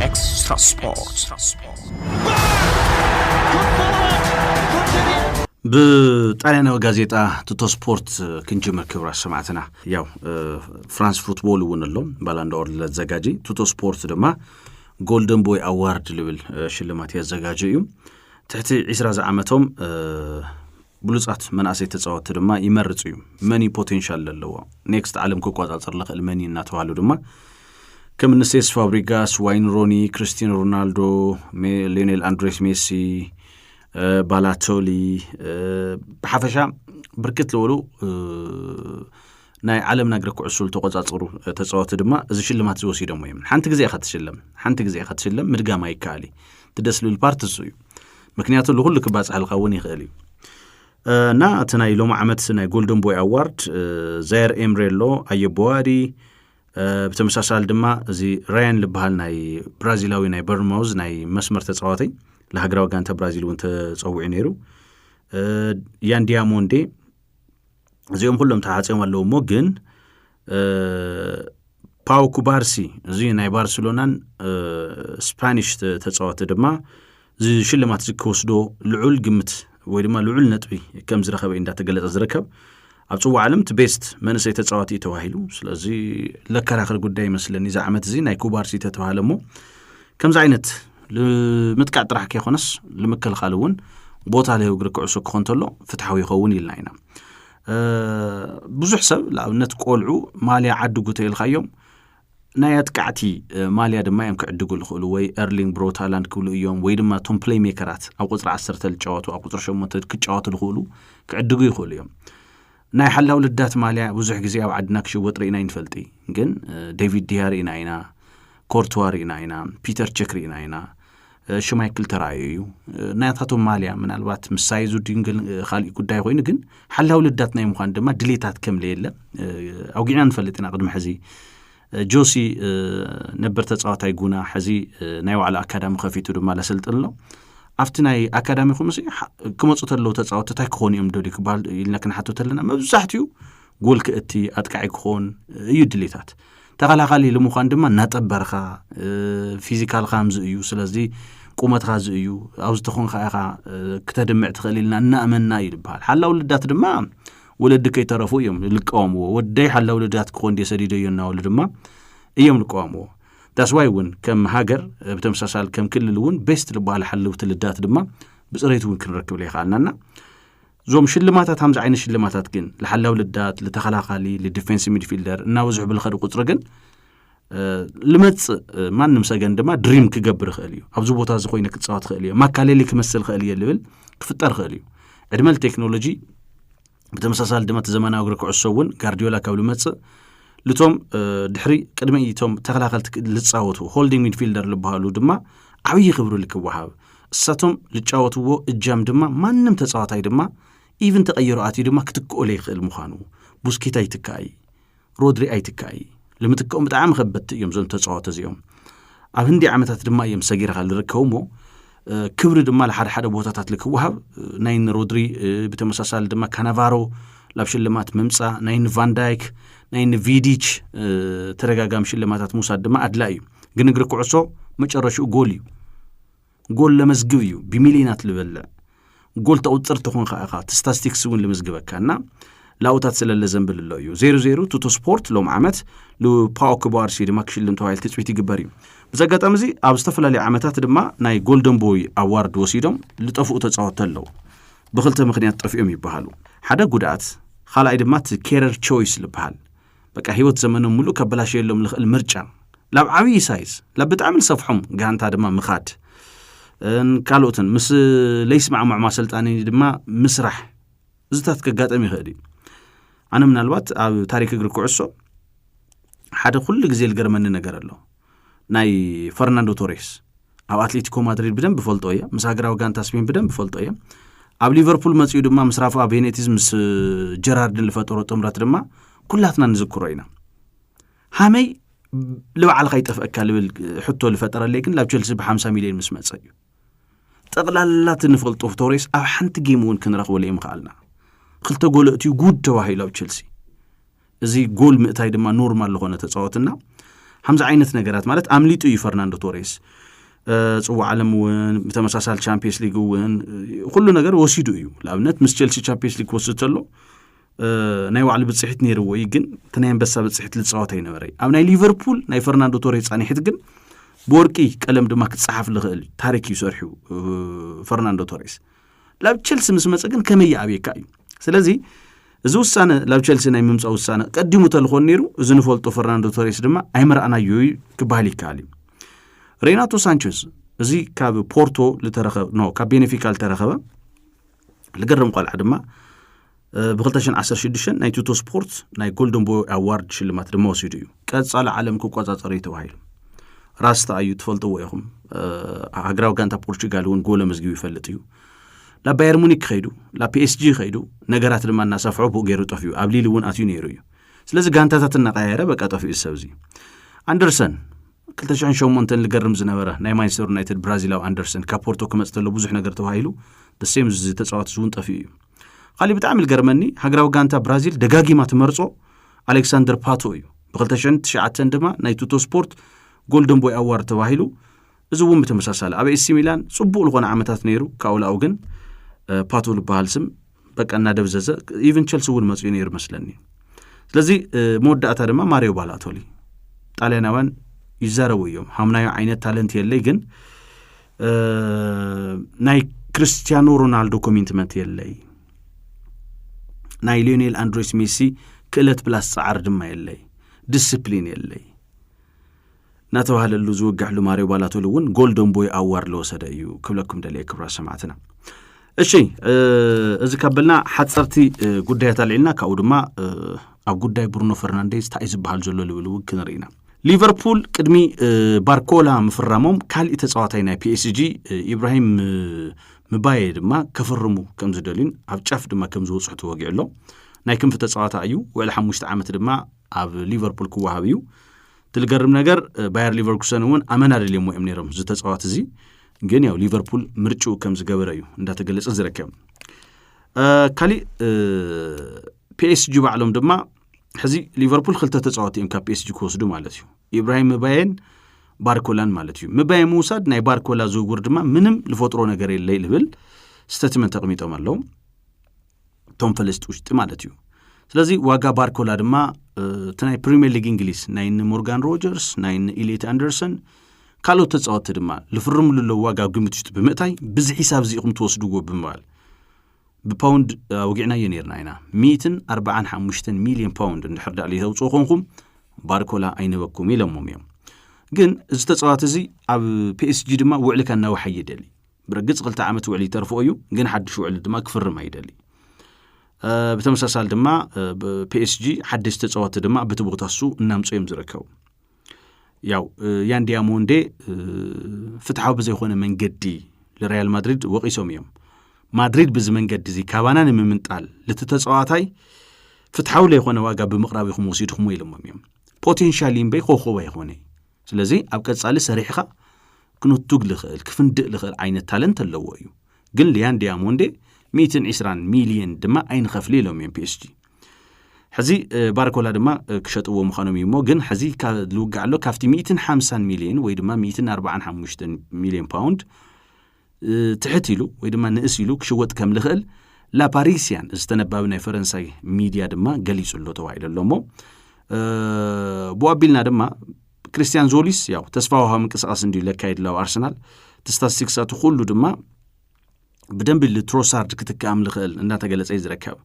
Extra Sport. ብጣልያናዊ ጋዜጣ ትቶ ስፖርት ክንጅምር ክብራ ሰማዕትና ያው ፍራንስ ፉትቦል እውን ኣሎ ባላንዳወር ለዘጋጂ ትቶ ስፖርት ድማ ጎልደን ቦይ ኣዋርድ ልብል ሽልማት የዘጋጀ እዩ ትሕቲ 20 ዝዓመቶም ብሉጻት መናእሰይ ተጻወትቲ ድማ ይመርጽ እዩ። መን እዩ ፖቴንሻል ለለዎ፣ ኔክስት ዓለም ክቆጻጸር ልኽእል መን እዩ እናተባህሉ ድማ ከም እኒ ሴስ ፋብሪጋስ፣ ዋይን ሮኒ፣ ክርስቲያኖ ሮናልዶ፣ ሊዮኔል ኣንድሬስ ሜሲ፣ ባላቶሊ ብሓፈሻ ብርክት ዝበሉ ናይ ዓለምና እግሪ ኩዕሶ ዝተቆጻጸሩ ተጻወቲ ድማ እዚ ሽልማት እዚ ወሲዶሞ እዮም ሓንቲ ግዜ ኢኻ ትሽለም ሓንቲ ግዜ ኢኻ ትሽለም ምድጋም ኣይከኣል እዩ ትደስ ልብል ፓርት እሱ እዩ ምክንያቱ ልኹሉ ክባፅሐልካ እውን ይኽእል እዩ እና እቲ ናይ ሎሚ ዓመት ናይ ጎልደን ቦይ ኣዋርድ ዛየር ኤምሬ ኣሎ ኣየቦዋሪ ብተመሳሳሊ ድማ እዚ ራያን ዝበሃል ናይ ብራዚላዊ ናይ በርማውዝ ናይ መስመር ተፃዋተይ ንሃገራዊ ጋንታ ብራዚል እውን ተፀዊዑ ነይሩ ያን ዲያሞንዴ እዚኦም ኩሎም ተዓፅዮም ኣለዉ እሞ ግን ፓው ኩባርሲ እዚ ናይ ባርሴሎናን ስፓኒሽ ተፃወቲ ድማ እዚ ሽልማት እዚ ክወስዶ ልዑል ግምት ወይ ድማ ልዑል ነጥቢ ከም ዝረኸበ እንዳተገለፀ ዝርከብ ኣብ ፅዋ ዓለም እቲ ቤስት መንእሰይ ተፃዋቲ እዩ ተባሂሉ ስለዚ ለከራኸር ጉዳይ ይመስለኒ እዚ ዓመት እዚ ናይ ኩባርሲ ተተባሃለ እሞ ከምዚ ዓይነት ንምጥቃዕ ጥራሕ ከይኮነስ ንምክልኻል እውን ቦታ ለህው እግሪ ክዕሶ ክኾን እንተሎ ፍትሓዊ ይኸውን ኢልና ኢና ብዙሕ ሰብ ንኣብነት ቆልዑ ማልያ ዓድጉ ተኢልካዮም ናይ ኣጥቃዕቲ ማልያ ድማ እዮም ክዕድጉ ዝኽእሉ ወይ ኤርሊንግ ብሮታላንድ ክብሉ እዮም ወይ ድማ እቶም ፕሌይ ሜከራት ኣብ ቁፅሪ ዓሰርተ ዝጫወቱ ኣብ ቁፅሪ ሸሞንተ ክጫወቱ ዝኽእሉ ክዕድጉ ይኽእሉ እዮም ናይ ሓላው ልዳት ማልያ ብዙሕ ግዜ ኣብ ዓድና ክሽወጥ ርኢና ይንፈልጢ ግን ዴቪድ ዲያ ርኢና ኢና ኮርትዋ ርኢና ኢና ፒተር ቸክ ርኢና ኢና ሽማይክል ተራእዩ እዩ ናያታቶም ማልያ ምናልባት ምሳይ ዙድንግል ካልእ ጉዳይ ኮይኑ ግን ሓላው ልዳት ናይ ምዃን ድማ ድሌታት ከም ለየለ ኣውጊዕና ንፈልጥ ኢና ቅድሚ ሕዚ ጆሲ ነበር ተጻዋታይ ጉና ሕዚ ናይ ባዕሉ ኣካዳሚ ከፊቱ ድማ ለሰልጥን ኣሎ ኣብቲ ናይ ኣካዳሚኹም ሲ ክመፁ ተለዉ ተፃወቲ እንታይ ክኾኑ እዮም ደልዩ ክበሃል ኢልና ክንሓቶ ተለና መብዛሕትኡ ጎል ክእቲ ኣጥቃዒ ክኾን እዩ ድሌታት ተኸላኻሊ ልምዃን ድማ እናጠበርካ ፊዚካልካ ምዝ እዩ ስለዚ ቁመትካ እዚ እዩ ኣብ ዝተኾንካ ኢኻ ክተድምዕ ትኽእል ኢልና እናእመና እዩ ዝበሃል ሓላው ልዳት ድማ ወለዲ ከይተረፉ እዮም ልቃወምዎ ወደይ ሓላ ወለዳት ክኾን ድ ሰዲደዮ እናበሉ ድማ እዮም ልቃወምዎ ዳስዋይ እውን ከም ሃገር ብተመሳሳል ከም ክልል እውን ቤስት ልበሃል ሓለውቲ ልዳት ድማ ብፅሬት እውን ክንረክብ ዘይከኣልናና እዞም ሽልማታት ከምዚ ዓይነት ሽልማታት ግን ልሓላው ልዳት ልተኸላኻሊ ልዲፌንስ ሚድፊልደር እናበዝሑ ብልኸዲ ቁፅሪ ግን ልመፅእ ማንም ሰገን ድማ ድሪም ክገብር ይኽእል እዩ ኣብዚ ቦታ እዚ ኮይነ ክፃወት ይኽእል እየ ማካሌሊ ክመስል ይኽእል እየ ልብል ክፍጠር ይኽእል እዩ ዕድመ ቴክኖሎጂ ብተመሳሳሊ ድማ እቲ ዘመናዊ እግሪ ክዕሶ እውን ጋርዲዮላ ካብ ልመፅእ ልቶም ድሕሪ ቅድሚ እቶም ተኸላኸልቲ ልፃወቱ ሆልዲንግ ሚድፊልደር ልበሃሉ ድማ ዓብዪ ክብሪ ልክወሃብ እሳቶም ልጫወትዎ እጃም ድማ ማንም ተፃዋታይ ድማ ኢቭን ተቐይሮ ኣትዩ ድማ ክትክኦለ ይኽእል ምዃኑ ቡስኬታ ይትካእ እዩ ሮድሪ ኣይትካእይ ልምትክኦም ብጣዕሚ ከበድቲ እዮም እዞም ተፃወተ እዚኦም ኣብ ህንዲ ዓመታት ድማ እዮም ሰጊርካ ዝርከቡ እሞ ክብሪ ድማ ንሓደ ሓደ ቦታታት ልክወሃብ ናይ ንሮድሪ ብተመሳሳሊ ድማ ካናቫሮ ላብ ሽልማት ምምፃእ ናይ ንቫንዳይክ ናይ ንቪዲች ተደጋጋሚ ሽልማታት ምውሳድ ድማ ኣድላ እዩ ግን እግሪ ኩዕሶ መጨረሽኡ ጎል እዩ ጎል ለመዝግብ እዩ ብሚሊዮናት ልበልዕ ጎል ተቁፅር ትኾን ከዓ እኻ ስታስቲክስ እውን ልምዝግበካ እና ላውታት ስለለ ዘንብል ኣሎ እዩ ዜሮ ዜሮ ቱቶ ስፖርት ሎም ዓመት ልፓኦ ክባርሲ ድማ ክሽልም ተባሂል ትፅቢት ይግበር እዩ ብዚ ኣጋጣሚ እዚ ኣብ ዝተፈላለዩ ዓመታት ድማ ናይ ጎልደን ቦይ ኣዋርድ ወሲዶም ዝጠፍኡ ተፃወቲ ኣለዉ ብክልተ ምክንያት ጠፊኦም ይበሃሉ ሓደ ጉድኣት ካልኣይ ድማ እቲ ኬረር ቾይስ ዝበሃል በቃ ህይወት ዘመኖም ምሉእ ከበላሸየሎም ልኽእል ምርጫ ላብ ዓብዪ ሳይዝ ላብ ብጣዕሚ ዝሰፍሖም ጋንታ ድማ ምኻድ ካልኦትን ምስ ለይስማዕማዕ ማሰልጣኒ ድማ ምስራሕ እዚታት ከጋጠም ይኽእል እዩ ኣነ ምናልባት ኣብ ታሪክ እግሪ ኩዕሶ ሓደ ኩሉ ግዜ ዝገርመኒ ነገር ኣሎ ናይ ፈርናንዶ ቶሬስ ኣብ ኣትሌቲኮ ማድሪድ ብደንብ ፈልጦ እየ ምስ ሃገራዊ ጋንታ ስፔን ብደንብ ፈልጦ እየ ኣብ ሊቨርፑል መፅኡ ድማ ምስ ራፋ ቤኔቲዝ ምስ ጀራርድን ዝፈጠሮ ጥምረት ድማ ኩላትና ንዝክሮ ኢና ሃመይ ልባዕልካ ይጠፍአካ ልብል ሕቶ ዝፈጠረለይ ግን ላብ ቸልሲ ብሓምሳ ሚልዮን ምስ መፀ እዩ ጠቕላላት ንፈልጦ ቶሬስ ኣብ ሓንቲ ጌም እውን ክንረኽበሉ እዮም ክኣልና ክልተ ጎለእትዩ ጉድ ተባሂሉ ኣብ ቸልሲ እዚ ጎል ምእታይ ድማ ኖርማል ዝኾነ ተፃወትና ሓምዚ ዓይነት ነገራት ማለት ኣምሊጡ እዩ ፈርናንዶ ቶሬስ ፅዋዕ ዓለም እውን ብተመሳሳሊ ቻምፒየንስ ሊግ እውን ኩሉ ነገር ወሲዱ እዩ ንኣብነት ምስ ቸልሲ ቻምፒየንስ ሊግ ክወስድ ተሎ ናይ ባዕሉ ብፅሒት ነይርዎ እዩ ግን እቲ ናይ ኣንበሳ ብፅሒት ልፃወት ኣይነበረ እዩ ኣብ ናይ ሊቨርፑል ናይ ፈርናንዶ ቶሬ ፃኒሒት ግን ብወርቂ ቀለም ድማ ክፀሓፍ ዝኽእል ታሪክ እዩ ሰርሑ ፈርናንዶ ቶሬስ ላብ ቸልሲ ምስ መፀ ግን ከመይ ይኣብየካ እዩ ስለዚ እዚ ውሳነ ላብ ቸልሲ ናይ ምምፃእ ውሳነ ቀዲሙ ተልኾን ነይሩ እዚ ንፈልጦ ፈርናንዶ ቶሬስ ድማ ኣይመርኣናዮ እዩ ክበሃል ይከኣል እዩ ሬናቶ ሳንቸዝ እዚ ካብ ፖርቶ ዝተረኸበ ኖ ካብ ቤኔፊካ ዝተረኸበ ልገርም ቆልዓ ድማ ብ2016 ናይ ቱቶ ስፖርት ናይ ጎልደን ቦይ ኣዋርድ ሽልማት ድማ ወሲዱ እዩ ቀፃሊ ዓለም ክቆፃፀር እዩ ተባሂሉ ራስታ እዩ ትፈልጥዎ ኢኹም ሃገራዊ ጋንታ ፖርቹጋል እውን ጎል ኣመዝጊቡ ይፈልጥ እዩ ናብ ባየር ሙኒክ ከይዱ ናብ ፒኤስጂ ከይዱ ነገራት ድማ እናሰፍሖ ብኡ ገይሩ ጠፍኡ ኣብ ሊሊ እውን ኣትዩ ነይሩ እዩ ስለዚ ጋንታታት እናቀያየረ በቃ ጠፍኡ ዝሰብ እዚ ኣንደርሰን 208 ዝገርም ዝነበረ ናይ ማንቸስተር ዩናይትድ ብራዚላዊ ኣንደርሰን ካብ ፖርቶ ክመፅ ተሎ ብዙሕ ነገር ተባሂሉ ደሴም ተፃዋት እውን ጠፍኡ እዩ ካሊእ ብጣዕሚ ዝገርመኒ ሃገራዊ ጋንታ ብራዚል ደጋጊማ ትመርጾ ኣሌክሳንደር ፓቶ እዩ ብ209 ድማ ናይ ቱቶ ስፖርት ጎልደን ቦይ ኣዋርድ ተባሂሉ እዚ እውን ብተመሳሳሊ ኣብ ኤሲ ሚላን ፅቡቅ ዝኾነ ዓመታት ነይሩ ካብኡ ላኡ ግን ፓቶ ዝበሃል ስም በቃ እናደብዘዘ ኢቨን ቸልሲ እውን መፅኡ ነይሩ መስለኒ ስለዚ መወዳእታ ድማ ማሪዮ ባላቶሊ ጣልያናውያን ይዛረቡ እዮም ሃምናዮ ዓይነት ታለንት የለይ ግን ናይ ክርስትያኖ ሮናልዶ ኮሚንትመንት የለይ ናይ ሊዮኔል ኣንድሬስ ሜሲ ክእለት ፕላስ ፃዓር ድማ የለይ ዲስፕሊን የለይ እናተባህለሉ ዝውግሕሉ ማሪዮ ባላቶል እውን ጎልደን ቦይ ኣዋር ለወሰደ እዩ ክብለኩም ደለየ ክብራ ሰማዕትና እሺ እዚ ካብ በልና ሓፀርቲ ጉዳያት ኣልዒልና ካብኡ ድማ ኣብ ጉዳይ ብሩኖ ፈርናንዴዝ እንታይ ዝበሃል ዘሎ ልብል እውን ክንርኢ ኢና ሊቨርፑል ቅድሚ ባርኮላ ምፍራሞም ካሊእ ተፃዋታይ ናይ ፒኤስጂ ኢብራሂም ምባየ ድማ ከፍርሙ ከም ዝደልዩን ኣብ ጫፍ ድማ ከም ዝወፅሑ ተወጊዑ ኣሎ ናይ ክንፊ ተፃዋታ እዩ ውዕሊ ሓሙሽተ ዓመት ድማ ኣብ ሊቨርፑል ክወሃብ እዩ እቲ ዝገርም ነገር ባየር ሊቨርኩሰን እውን ኣመና ደልዮሞ እዮም ነይሮም እዚ ተፃዋት እዚ ግን ያው ሊቨርፑል ምርጭኡ ከም ዝገበረ እዩ እንዳተገለጸ ዝርከብ ካሊእ ፒኤስጂ ባዕሎም ድማ ሕዚ ሊቨርፑል ክልተ ተፃወቲ እዮም ካብ ፒኤስጂ ክወስዱ ማለት እዩ ኢብራሂም ምባየን ባርኮላን ማለት እዩ ምባየ ምውሳድ ናይ ባርኮላ ዝውውር ድማ ምንም ዝፈጥሮ ነገር የለ ዝብል ስተትመንት ተቕሚጦም ኣለዉ እቶም ፈለስቲ ውሽጢ ማለት እዩ ስለዚ ዋጋ ባርኮላ ድማ እቲ ናይ ፕሪምየር ሊግ እንግሊዝ ናይ ን ሞርጋን ሮጀርስ ናይ ን ኢሌት ኣንደርሰን ካልኦት ተፃወቲ ድማ ዝፍርምሉ ኣለዉ ዋጋ ኣብ ግምት ውሽጢ ብምእታይ ብዚ ሒሳብ እዚ ኢኹም ትወስድዎ ብምባል ብፓውንድ ኣውጊዕናዮ ነርና ኢና ሚእትን ኣርባዓን ሓሙሽተን ሚልዮን ፓውንድ እንድሕር ዳኣ ለይተውፅኡ ኮንኩም ባርኮላ ኣይንበኩም ኢሎሞም እዮም ግን እዚ ተፃዋቲ እዚ ኣብ ፒኤስጂ ድማ ውዕሊ ከናውሓ ይደሊ ብርግፅ ክልተ ዓመት ውዕሊ ይተርፎ እዩ ግን ሓድሽ ውዕሊ ድማ ክፍርም ኣይደሊ ብተመሳሳሊ ድማ ፒኤስጂ ሓደሽ ተፃወቲ ድማ ብቲ ቦታ ሱ እናምፀ እዮም ዝርከቡ ያው ያን ዲያሞንዴ ፍትሓዊ ብዘይኮነ መንገዲ ንሪያል ማድሪድ ወቒሶም እዮም ማድሪድ ብዚ መንገዲ እዚ ካባና ንምምንጣል ልቲ ተፃዋታይ ፍትሓዊ ለይኮነ ዋጋ ብምቕራብ ኢኹም ወሲድኹም ኢሎሞም እዮም ፖቴንሻል እምበይ ኮኸብ ኣይኮነ ስለዚ ኣብ ቀጻሊ ሰሪሕኻ ክንቱግ ልኽእል ክፍንድእ ልኽእል ዓይነት ታለንት ኣለዎ እዩ ግን ሊያን ዲያሞንዴ ሚእትን ዒስራን ሚልየን ድማ ኣይንኸፍሊ ኢሎም እዮም ፒኤስጂ ሕዚ ባርኮላ ድማ ክሸጥዎ ምዃኖም እዩ እሞ ግን ሕዚ ልውጋዕ ኣሎ ካብቲ 150 ሚሊዮን ወይ ድማ 145 ሚሊዮን ፓውንድ ትሕት ኢሉ ወይ ድማ ንእስ ኢሉ ክሽወጥ ከም ዝኽእል ላፓሪስያን ዝተነባቢ ናይ ፈረንሳይ ሚድያ ድማ ገሊጹ ኣሎ ተባሂሉ ኣሎ እሞ ብኡ ኣቢልና ድማ ክርስትያን ዞሊስ ያው ተስፋ ውሃ ምንቅስቃስ እንድዩ ለካየድ ላው ኣርሰናል እቲ ስታትስቲክሳቱ ኩሉ ድማ ብደንቢ ልትሮሳርድ ክትክኣም ልኽእል እንዳተገለጸ እዩ ዝርከብ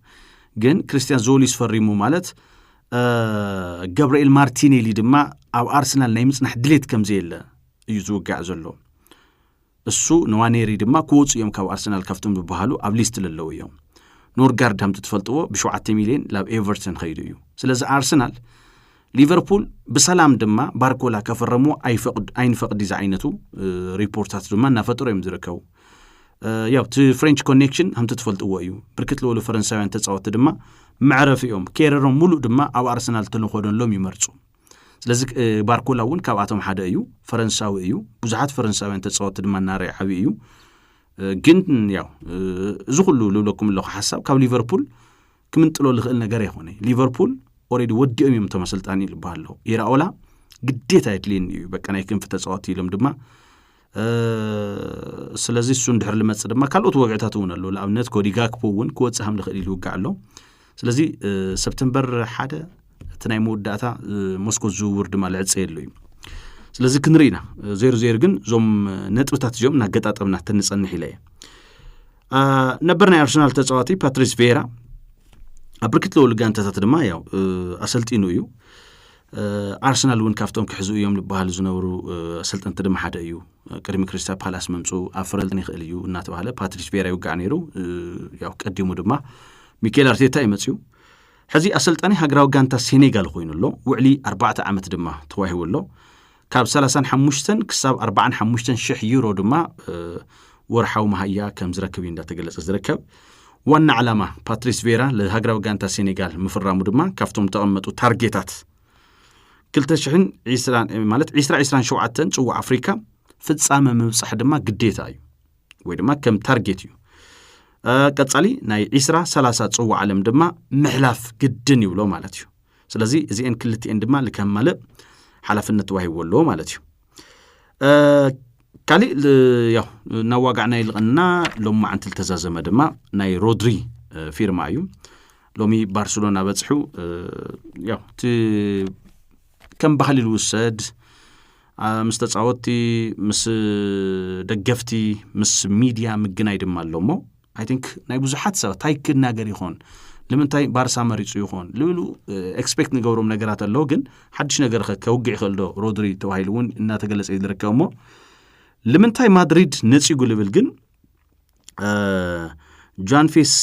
ግን ክርስትያን ዞሊስ ፈሪሙ ማለት ገብርኤል ማርቲኔሊ ድማ ኣብ ኣርሰናል ናይ ምጽናሕ ድሌት ከም ዘየለ እዩ ዝውጋዕ ዘሎ እሱ ንዋኔሪ ድማ ክወፁ እዮም ካብ ኣርሰናል ካብቶም ዝበሃሉ ኣብ ሊስት ለለዉ እዮም ኖርጋርድ ሃምቲ ትፈልጥዎ ብሸውዓተ ሚልዮን ናብ ኤቨርተን ኸይዱ እዩ ስለዚ ኣርሰናል ሊቨርፑል ብሰላም ድማ ባርኮላ ከፈረሞ ኣይንፈቅዲ ዝዓይነቱ ሪፖርታት ድማ እናፈጠሩ እዮም ዝርከቡ ያው እቲ ፍሬንች ኮኔክሽን ከምቲ ትፈልጥዎ እዩ ብርክት ዝበሉ ፈረንሳውያን ተፃወቲ ድማ መዕረፊ እዮም ኬረሮም ሙሉእ ድማ ኣብ ኣርሰናል ተንኾደሎም ይመርፁ ስለዚ ባርኮላ እውን ካብኣቶም ሓደ እዩ ፈረንሳዊ እዩ ብዙሓት ፈረንሳውያን ተፃወቲ ድማ እናርእ ዓብ እዩ ግን ያው እዚ ኩሉ ልብለኩም ኣለኹ ሓሳብ ካብ ሊቨርፑል ክምንጥሎ ዝኽእል ነገር ኣይኮነ ሊቨርፑል ኦሬዲ ወዲኦም እዮም እቶም ኣሰልጣኒ ዝበሃል ኣሎ ኢራኦላ ግዴታ የድልየኒ እዩ በቃ ናይ ክንፊ ተፃወቲ ኢሎም ድማ ስለዚ እሱ እንድሕር ልመፅእ ድማ ካልኦት ወግዕታት እውን ኣለዉ ንኣብነት ኮዲ ጋክፖ እውን ክወፅእ ከም ዝኽእል ይልውጋዕ ኣሎ ስለዚ ሰፕተምበር ሓደ እቲ ናይ መወዳእታ ሞስኮ ዝውውር ድማ ልዕፀየሉ እዩ ስለዚ ክንርኢ ኢና ዜሮ ዜሮ ግን እዞም ነጥብታት እዚኦም እናገጣጠምና ተንፀንሕ ኢለ እየ ነበር ናይ ኣርሰናል ተፃዋቲ ፓትሪስ ቬራ ኣብ ብርክት ዝበሉ ጋንታታት ድማ ያው ኣሰልጢኑ እዩ ኣርሰናል እውን ካብቶም ክሕዙ እዮም ዝበሃሉ ዝነበሩ ኣሰልጠንቲ ድማ ሓደ እዩ ቅድሚ ክሪስታ ፓላስ ምምፁ ኣብ ፍረልጠን ይኽእል እዩ እናተባሃለ ፓትሪስ ቬራ ይውጋዕ ነይሩ ያው ቀዲሙ ድማ ሚካኤል ኣርቴታ እዩ መፅኡ ሕዚ ኣሰልጣኒ ሃገራዊ ጋንታ ሴኔጋል ኮይኑ ኣሎ ውዕሊ ኣርባዕተ ዓመት ድማ ተዋሂቡ ኣሎ ካብ ሰላሳን ሓሙሽተን ክሳብ ኣርባዓን ሓሙሽተን ሽሕ ዩሮ ድማ ወርሓዊ መሃያ ከም ዝረክብ እዩ እንዳተገለጸ ዝርከብ ዋና ዓላማ ፓትሪስ ቬራ ለሃገራዊ ጋንታ ሴኔጋል ምፍራሙ ድማ ካብቶም ዝተቐመጡ ታርጌታት 220 ማለት 227 ፅዋዕ ኣፍሪካ ፍጻመ ምብፃሕ ድማ ግዴታ እዩ ወይ ድማ ከም ታርጌት እዩ ቀጻሊ ናይ 20 30 ፅዋ ዓለም ድማ ምሕላፍ ግድን ይብሎ ማለት እዩ ስለዚ እዚአን ክልቲኤን ድማ ንከማልእ ሓላፍነት ተዋሂብዎ ኣለዎ ማለት እዩ ካሊእ ያው እናዋጋዕና ይልቐና ሎም መዓንቲ ዝተዛዘመ ድማ ናይ ሮድሪ ፊርማ እዩ ሎሚ ባርሴሎና በፅሑ ያው እቲ ከም ባህሊ ልውሰድ ምስ ተጻወትቲ፣ ምስ ደገፍቲ፣ ምስ ሚድያ ምግናይ ድማ ኣሎ እሞ ኣይ ቲንክ ናይ ብዙሓት ሰባት እንታይ ክናገር ይኾን ንምንታይ ባርሳ መሪጹ ይኾን ልብሉ ኤክስፔክት ንገብሮም ነገራት ኣለዉ ግን ሓድሽ ነገር ኸ ከውግዕ ይኽእል ዶ ሮድሪ ተባሂሉ እውን እናተገለጸ እዩ ዝርከብ እሞ ልምንታይ ማድሪድ ነጺጉ ልብል ግን ጃንፌስ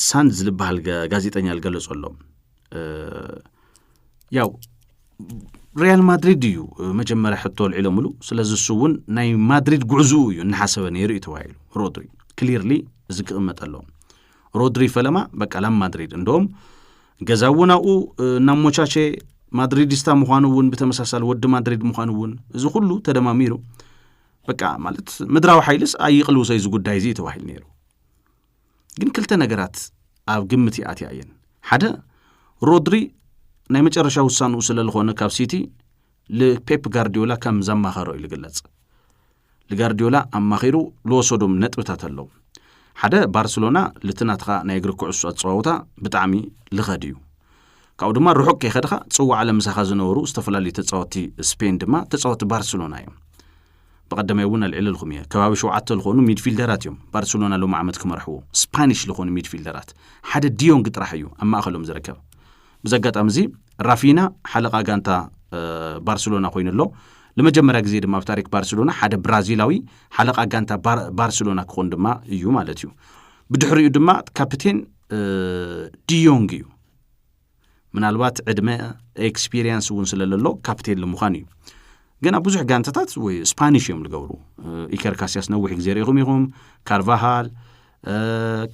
ሳንድ ዝልበሃል ጋዜጠኛ ዝገለጾ ኣሎ ያው ሪያል ማድሪድ እዩ መጀመርያ ሕቶ ኣልዒሎምሉ ስለዚ እሱ እውን ናይ ማድሪድ ጉዕዝኡ እዩ እናሓሰበ ነይሩ እዩ ተባሂሉ ሮድሪ ክሊርሊ እዚ ክቕመጠ ኣለዎ ሮድሪ ፈለማ በቃ ላብ ማድሪድ እንደም ገዛ እውን ኣብኡ እናሞቻቸ ማድሪድስታ ምዃኑ እውን ብተመሳሳሊ ወዲ ማድሪድ ምዃኑ እውን እዚ ኩሉ ተደማሚሩ በቃ ማለት ምድራዊ ሓይልስ ኣይቕልውሰ እዚ ጉዳይ እዚ ተባሂሉ ነይሩ ግን ክልተ ነገራት ኣብ ግምት ይኣትያ እየን ሓደ ሮድሪ ናይ መጨረሻ ውሳንኡ ስለ ዝኾነ ካብ ሲቲ ልፔፕ ጋርዲዮላ ከም ዘማኸሮ እዩ ዝግለጽ ልጋርዲዮላ ኣማኺሩ ዝወሰዶም ነጥብታት ኣለዉ ሓደ ባርሴሎና ልቲ ናትኻ ናይ እግሪ ኩዕሶ ኣፀዋውታ ብጣዕሚ ልኸድ እዩ ካብኡ ድማ ርሑቅ ከይኸድኻ ፅዋዕ ዓለም ምሳኻ ዝነበሩ ዝተፈላለዩ ተፃወቲ ስፔን ድማ ተፃወቲ ባርሴሎና እዮም ብቐደመይ እውን ኣልዒለልኩም እየ፣ ከባቢ ሸውዓተ ዝኾኑ ሚድፊልደራት እዮም ባርሰሎና ሎሚ ዓመት ክመርሕዎ፣ ስፓኒሽ ዝኾኑ ሚድፊልደራት፣ ሓደ ዲዮንግ ጥራሕ እዩ ኣብ ማእኸሎም ዝርከብ። ብዚ ኣጋጣሚ እዚ ራፊና ሓለቓ ጋንታ ባርሰሎና ኮይኑ ኣሎ። ንመጀመርያ ግዜ ድማ ኣብ ታሪክ ባርሰሎና ሓደ ብራዚላዊ ሓለቓ ጋንታ ባርሰሎና ክኾን ድማ እዩ ማለት እዩ። ብድሕሪኡ ድማ ካፕቴን ዲዮንግ እዩ። ምናልባት ዕድመ ኤክስፒሪየንስ እውን ስለለሎ ካፕቴን ንምዃን እዩ ግን ኣብ ብዙሕ ጋንታታት ወይ ስፓኒሽ እዮም ዝገብሩ ኢከር ካስያስ ነዊሕ ግዜ ርኢኹም ኢኹም ካርቫሃል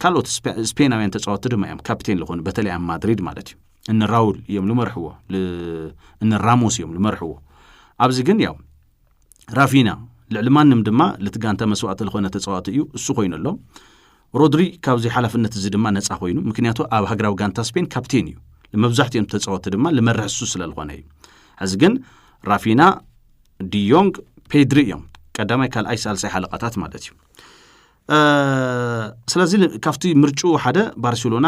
ካልኦት ስፔናውያን ተፃወቲ ድማ እዮም ካፕቴን ዝኾኑ በተለይ ኣብ ማድሪድ ማለት እዩ እኒ ራውል እዮም ዝመርሕዎ እኒ ራሞስ እዮም ዝመርሕዎ ኣብዚ ግን ያው ራፊና ልዕሊ ማንም ድማ ልቲ ጋንታ መስዋእቲ ዝኾነ ተፃዋቲ እዩ እሱ ኮይኑ ኣሎ ሮድሪ ካብዚ ሓላፍነት እዚ ድማ ነፃ ኮይኑ ምክንያቱ ኣብ ሃገራዊ ጋንታ ስፔን ካፕቴን እዩ ንመብዛሕትኦም ተፃወቲ ድማ ልመርሕ እሱ ስለዝኾነ እዩ ሕዚ ግን ራፊና ዲዮንግ ፔድሪ እዮም ቀዳማይ ካልኣይ ሳልሳይ ሓለቃታት ማለት እዩ ስለዚ ካብቲ ምርጭኡ ሓደ ባርሴሎና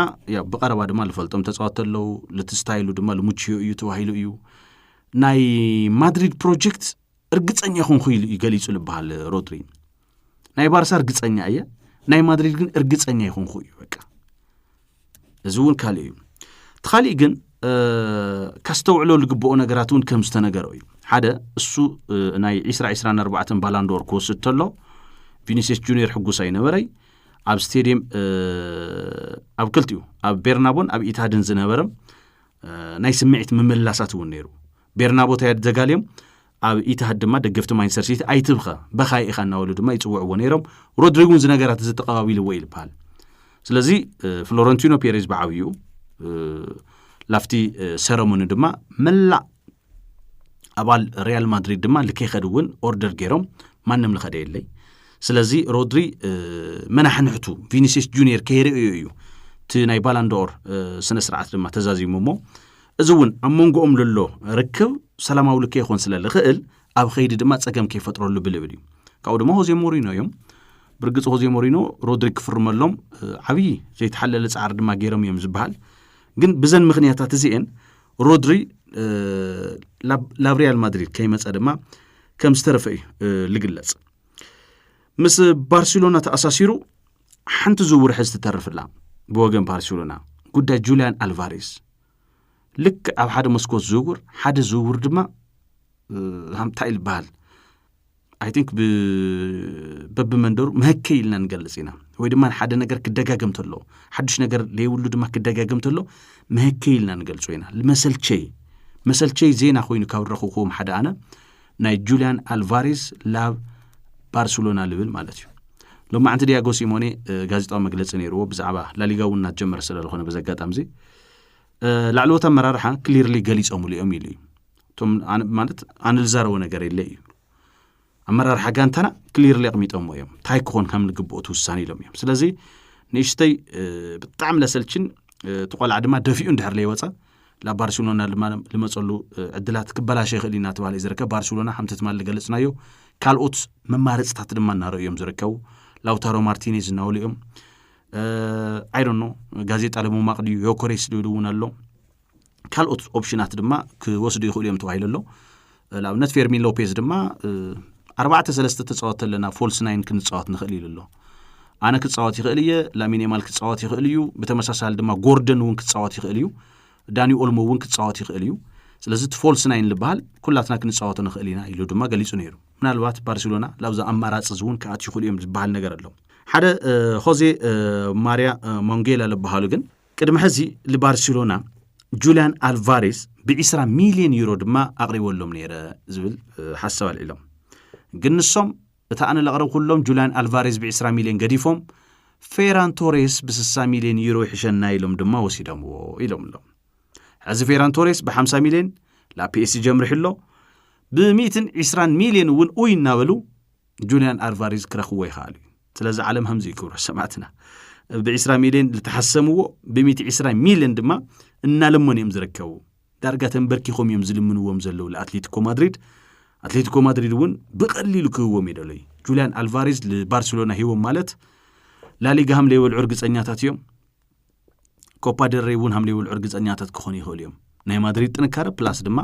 ብቀረባ ድማ ዝፈልጦም ተፃወቲ ኣለዉ ልቲ ስታይሉ ድማ ልሙችዮ እዩ ተባሂሉ እዩ ናይ ማድሪድ ፕሮጀክት እርግፀኛ ኮንኩ ኢሉ እዩ ገሊጹ ዝበሃል ሮድሪ ናይ ባርሳ እርግፀኛ እየ ናይ ማድሪድ ግን እርግፀኛ ይኮንኩ እዩ በቃ እዚ እውን ካልእ እዩ እቲ ካሊእ ግን ከስተውዕሎ ዝግብኦ ነገራት እውን ከም ዝተነገሮ እዩ ሓደ እሱ ናይ 224 ባላንዶር ክወስድ ተሎ ቪኒስስ ጁኒየር ሕጉስ ኣይነበረይ ኣብ ስቴድየም ኣብ ክልቲኡ ኣብ ቤርናቦን ኣብ ኢታድን ዝነበረ ናይ ስምዒት ምምልላሳት እውን ነይሩ ቤርናቦ ታያድ ዘጋልዮም ኣብ ኢትሃድ ድማ ደገፍቲ ማንቸስተር ሲቲ ኣይትብኸ በኻይ ኢኻ እናበሉ ድማ ይፅውዕዎ ነይሮም ሮድሪግ እውን እዚ ነገራት እዚ ተቐባቢልዎ እዩ ዝበሃል ስለዚ ፍሎረንቲኖ ፔሬዝ ብዓብዩ ላፍቲ ሰረሞኒ ድማ መላእ ኣባል ሪያል ማድሪድ ድማ ልከይኸድ እውን ኦርደር ገይሮም ማንም ልኸደ የለይ ስለዚ ሮድሪ መናሕንሕቱ ቪኒሲስ ጁኒየር ከይርእዩ እዩ እቲ ናይ ባላንዶር ስነ ስርዓት ድማ ተዛዚሙ እሞ እዚ እውን ኣብ መንጎኦም ዘሎ ርክብ ሰላማዊ ልከ ይኾን ስለ ዝኽእል ኣብ ኸይዲ ድማ ጸገም ከይፈጥረሉ ብልብል እዩ ካብኡ ድማ ሆዜ ሞሪኖ እዮም ብርግጽ ሆዜ ሞሪኖ ሮድሪ ክፍርመሎም ዓብዪ ዘይተሓለለ ጻዕሪ ድማ ገይሮም እዮም ዝበሃል ግን ብዘን ምክንያታት እዚአን ሮድሪ ላብ ሪያል ማድሪድ ከይመፀ ድማ ከም ዝተረፈ እዩ ዝግለጽ ምስ ባርሴሎና ተኣሳሲሩ ሓንቲ ዝውውር ሕዚ ትተርፍላ ብወገን ባርሴሎና ጉዳይ ጁልያን ኣልቫሬስ ልክ ኣብ ሓደ መስኮት ዝውውር ሓደ ዝውውር ድማ ሃምታይ ዝበሃል ኣይ ቲንክ በብመንደሩ መህከ ኢልና ንገልጽ ኢና ወይ ድማ ሓደ ነገር ክደጋገም ተሎ ሓዱሽ ነገር ለይብሉ ድማ ክደጋገም ተሎ መህከ ኢልና ንገልጾ ኢና መሰልቸይ መሰልቸይ ዜና ኮይኑ ካብ ረኽኹዎም ሓደ ኣነ ናይ ጁልያን ኣልቫሬስ ላብ ባርሴሎና ልብል ማለት እዩ ሎሚ ዓንቲ ዲያጎ ሲሞኔ ጋዜጣዊ መግለፂ ነይርዎ ብዛዕባ ላሊጋ እውን እናጀመረ ስለዝኾነ በዚ ኣጋጣሚ እዚ ላዕለዎት ኣመራርሓ ክሊርሊ ገሊፆምሉ እዮም ኢሉ እዩ እቶም ማለት ኣነ ዝዛረቦ ነገር የለ እዩ ኣመራርሓ ጋንታና ክሊርሊ ኣቕሚጦሞ እዮም እንታይ ክኾን ከም ንግብኦ ትውሳኒ ኢሎም እዮም ስለዚ ንእሽተይ ብጣዕሚ ለሰልችን እቲ ቆልዓ ድማ ደፊኡ እንድሕር ለይወፀ ናብ ባርሴሎና ድማ ልመፀሉ ዕድላት ክበላሸ ይኽእል ኢና ተባሂሉ እዩ ዝርከብ ባርሴሎና ከምቲ ትማሊ ገለፅናዮ ካልኦት መማረፅታት ድማ እናረኡ እዮም ዝርከቡ ላውታሮ ማርቲኔዝ እናበሉ እዮም ኣይዶኖ ጋዜጣ ለሞማቅ ድዩ ዮኮሬስ ድዩ እውን ኣሎ ካልኦት ኦፕሽናት ድማ ክወስዱ ይኽእሉ እዮም ተባሂሉ ኣሎ ንኣብነት ፌርሚን ሎፔዝ ድማ ኣርባዕተ ሰለስተ ተፃወት ኣለና ፎልስ ናይን ክንፃወት ንኽእል ኢሉ ኣሎ ኣነ ክፃወት ይኽእል እየ ላሚኔማል ክፃወት ይኽእል እዩ ብተመሳሳሊ ድማ ጎርደን እውን ክፃወት ይኽእል እዩ ዳኒ ኦልሞ እውን ክፃወት ይኽእል እዩ ስለዚ እቲ ፎልስ ናይን ዝበሃል ኩላትና ክንፃወቶ ንኽእል ኢና ኢሉ ድማ ገሊፁ ነይሩ ምናልባት ባርሴሎና ላብዚ ኣማራፂ እዚ እውን ክኣት ይኽእሉ እዮም ዝበሃል ነገር ኣሎ ሓደ ሆዜ ማርያ ሞንጌላ ዝበሃሉ ግን ቅድሚ ሕዚ ልባርሴሎና ጁልያን ኣልቫሬስ ብ20 ሚልዮን ዩሮ ድማ ኣቕሪበሎም ነይረ ዝብል ሓሳብ ኣልዒሎም ግን ንሶም እቲ ኣነ ዘቕረብኩሎም ጁልያን ኣልቫሬስ ብ20 ሚልዮን ገዲፎም ፌራን ቶሬስ ብ60 ሚልዮን ዩሮ ይሕሸና ኢሎም ድማ ወሲዶምዎ ኢሎም ኣሎ ሕዚ ፌራን ቶሬስ ብ50 ሚልዮን ላብ ፒኤስጂ ኣምሪሑ ኣሎ ብ120 ሚልዮን እውን ኡይ እናበሉ ጁልያን ኣርቫሪዝ ክረኽብዎ ይኸኣሉ እዩ ስለዚ ዓለም ከምዚ እዩ ክብሮ ሰማዕትና ብ ዕስራ ሚልዮን ዝተሓሰምዎ ብሚእቲ ዕስራ ሚልዮን ድማ እናለመኑ እዮም ዝርከቡ ዳርጋ ተንበርኪኾም እዮም ዝልምንዎም ዘለዉ ንኣትሌቲኮ ማድሪድ ኣትሌቲኮ ማድሪድ እውን ብቐሊሉ ክህዎም እዩ ደሎዩ ጁልያን ኣልቫሬዝ ንባርሴሎና ሂቦም ማለት ላሊጋ ሃምለይበልዑ እርግፀኛታት እዮም ኮፓ ደል ሬይ እውን ሃምሊ ይብልዑ እርግፀኛታት ክኾኑ ይኽእሉ እዮም ናይ ማድሪድ ጥንካረ ፕላስ ድማ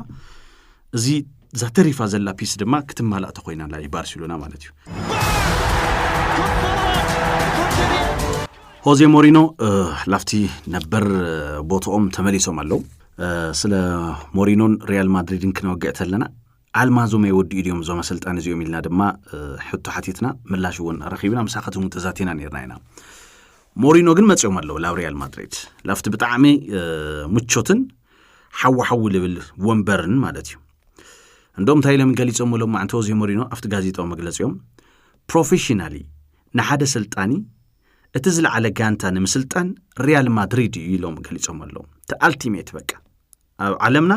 እዚ እዛ ተሪፋ ዘላ ፒስ ድማ ክትማላእ ተኮይና ኣላ ባርሴሎና ማለት እዩ ሆዜ ሞሪኖ ላፍቲ ነበር ቦትኦም ተመሊሶም ኣለው ስለ ሞሪኖን ሪያል ማድሪድን ክነወግዕ ተለና ኣልማዞ መይ ወዲኡ ድዮም እዞም ኣሰልጣኒ እዚኦም ኢልና ድማ ሕቶ ሓቲትና ምላሽ እውን ረኺብና ምሳኻትኩም እውን ተዛቲና ነርና ኢና ሞሪኖ ግን መፅኦም ኣለዉ ላብ ሪያል ማድሪድ ላብቲ ብጣዕሚ ምቾትን ሓወሓዊ ልብል ወንበርን ማለት እዩ እንዶም እንታይ ኢሎም ገሊፆም ሎም ማዕንቲ ሆዜ ሞሪኖ ኣብቲ ጋዜጣዊ መግለፂኦም ፕሮፌሽናሊ ንሓደ ስልጣኒ እቲ ዝለዓለ ጋንታ ንምስልጣን ሪያል ማድሪድ እዩ ኢሎም ገሊፆም ኣለዉ እቲ ኣልቲሜት በቃ ኣብ ዓለምና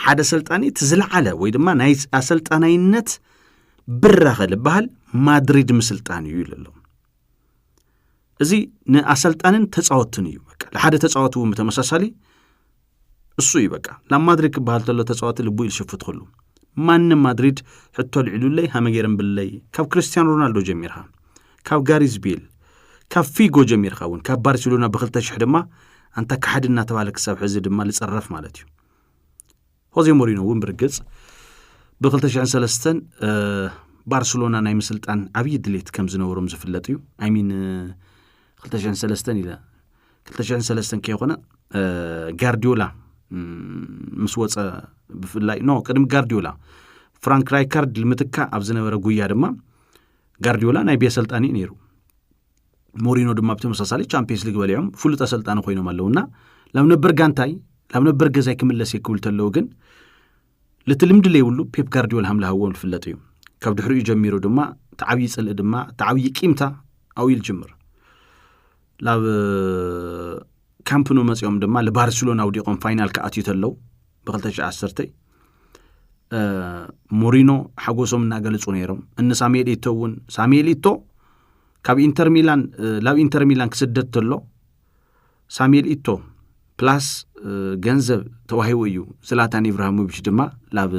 ሓደ ኣሰልጣኒ እቲ ዝለዓለ ወይ ድማ ናይ ኣሰልጣናይነት ብራኸ ዝበሃል ማድሪድ ምስልጣን እዩ ኢሉ ኣሎ እዚ ንኣሰልጣንን ተፃወትን እዩ በቃ ንሓደ ተፃወቲ እውን ብተመሳሳሊ እሱ እዩ በቃ ናብ ማድሪድ ክበሃል ተሎ ተፃወቲ ልቡ ኢል ሽፍት ክሉ ማንም ማድሪድ ሕቶ ልዕሉለይ ሃመጌርም ብለይ ካብ ክርስትያን ሮናልዶ ጀሚርካ ካብ ጋሪዝ ቤል፣ ካብ ፊጎ ጀሚርካ እውን ካብ ባርሴሎና ብክልተ ሽሕ ድማ ኣንታ ካሓዲ እናተባህለ ክሳብ ሕዚ ድማ ልጽረፍ ማለት እዩ። ሆዜ ሞሪኖ እውን ብርግጽ ብ2003 ባርሰሎና ናይ ምስልጣን ዓብዪ ድሌት ከም ዝነበሮም ዝፍለጥ እዩ ኣይሚን 23 ኢለ 23 ከይኮነ ጋርዲዮላ ምስ ወፀ ብፍላይ ኖ ቅድሚ ጋርዲዮላ ፍራንክ ራይካርድ ልምትካ ኣብ ዝነበረ ጉያ ድማ ጋርዲዮላ ናይ ቤ ኣሰልጣኒ እዩ ነይሩ ሞሪኖ ድማ ብተመሳሳሊ ቻምፒየንስ ሊግ በሊዖም ፍሉጥ ኣሰልጣኒ ኮይኖም ኣለውና ላብ ነበር ጋንታይ ላብ ነበር ገዛይ ክምለስ እየ ክብል ተለዉ ግን ልቲ ልምዲ ለይብሉ ፔፕ ጋርዲዮል ሃምልሃዎም ዝፍለጥ እዩ ካብ ድሕሪኡ ጀሚሩ ድማ ተዓብዪ ፅልኢ ድማ ተዓብዪ ቂምታ ኣብኡ ጅምር ላብ ካምፕኑ መፂኦም ድማ ልባርሴሎና ውዲቖም ፋይናል ክኣትዩ ተለው ብ210 ሞሪኖ ሓጎሶም እናገለፁ ነይሮም እኒ ሳሙኤል ኢቶ እውን ሳሙኤል ኢቶ ካብ ኢንተር ሚላን ላብ ኢንተር ሚላን ክስደድ ተሎ ሳሙኤል ኢቶ ፕላስ ገንዘብ ተዋሂቡ እዩ ዝላታን ኢብራሂሞቪች ድማ ላብ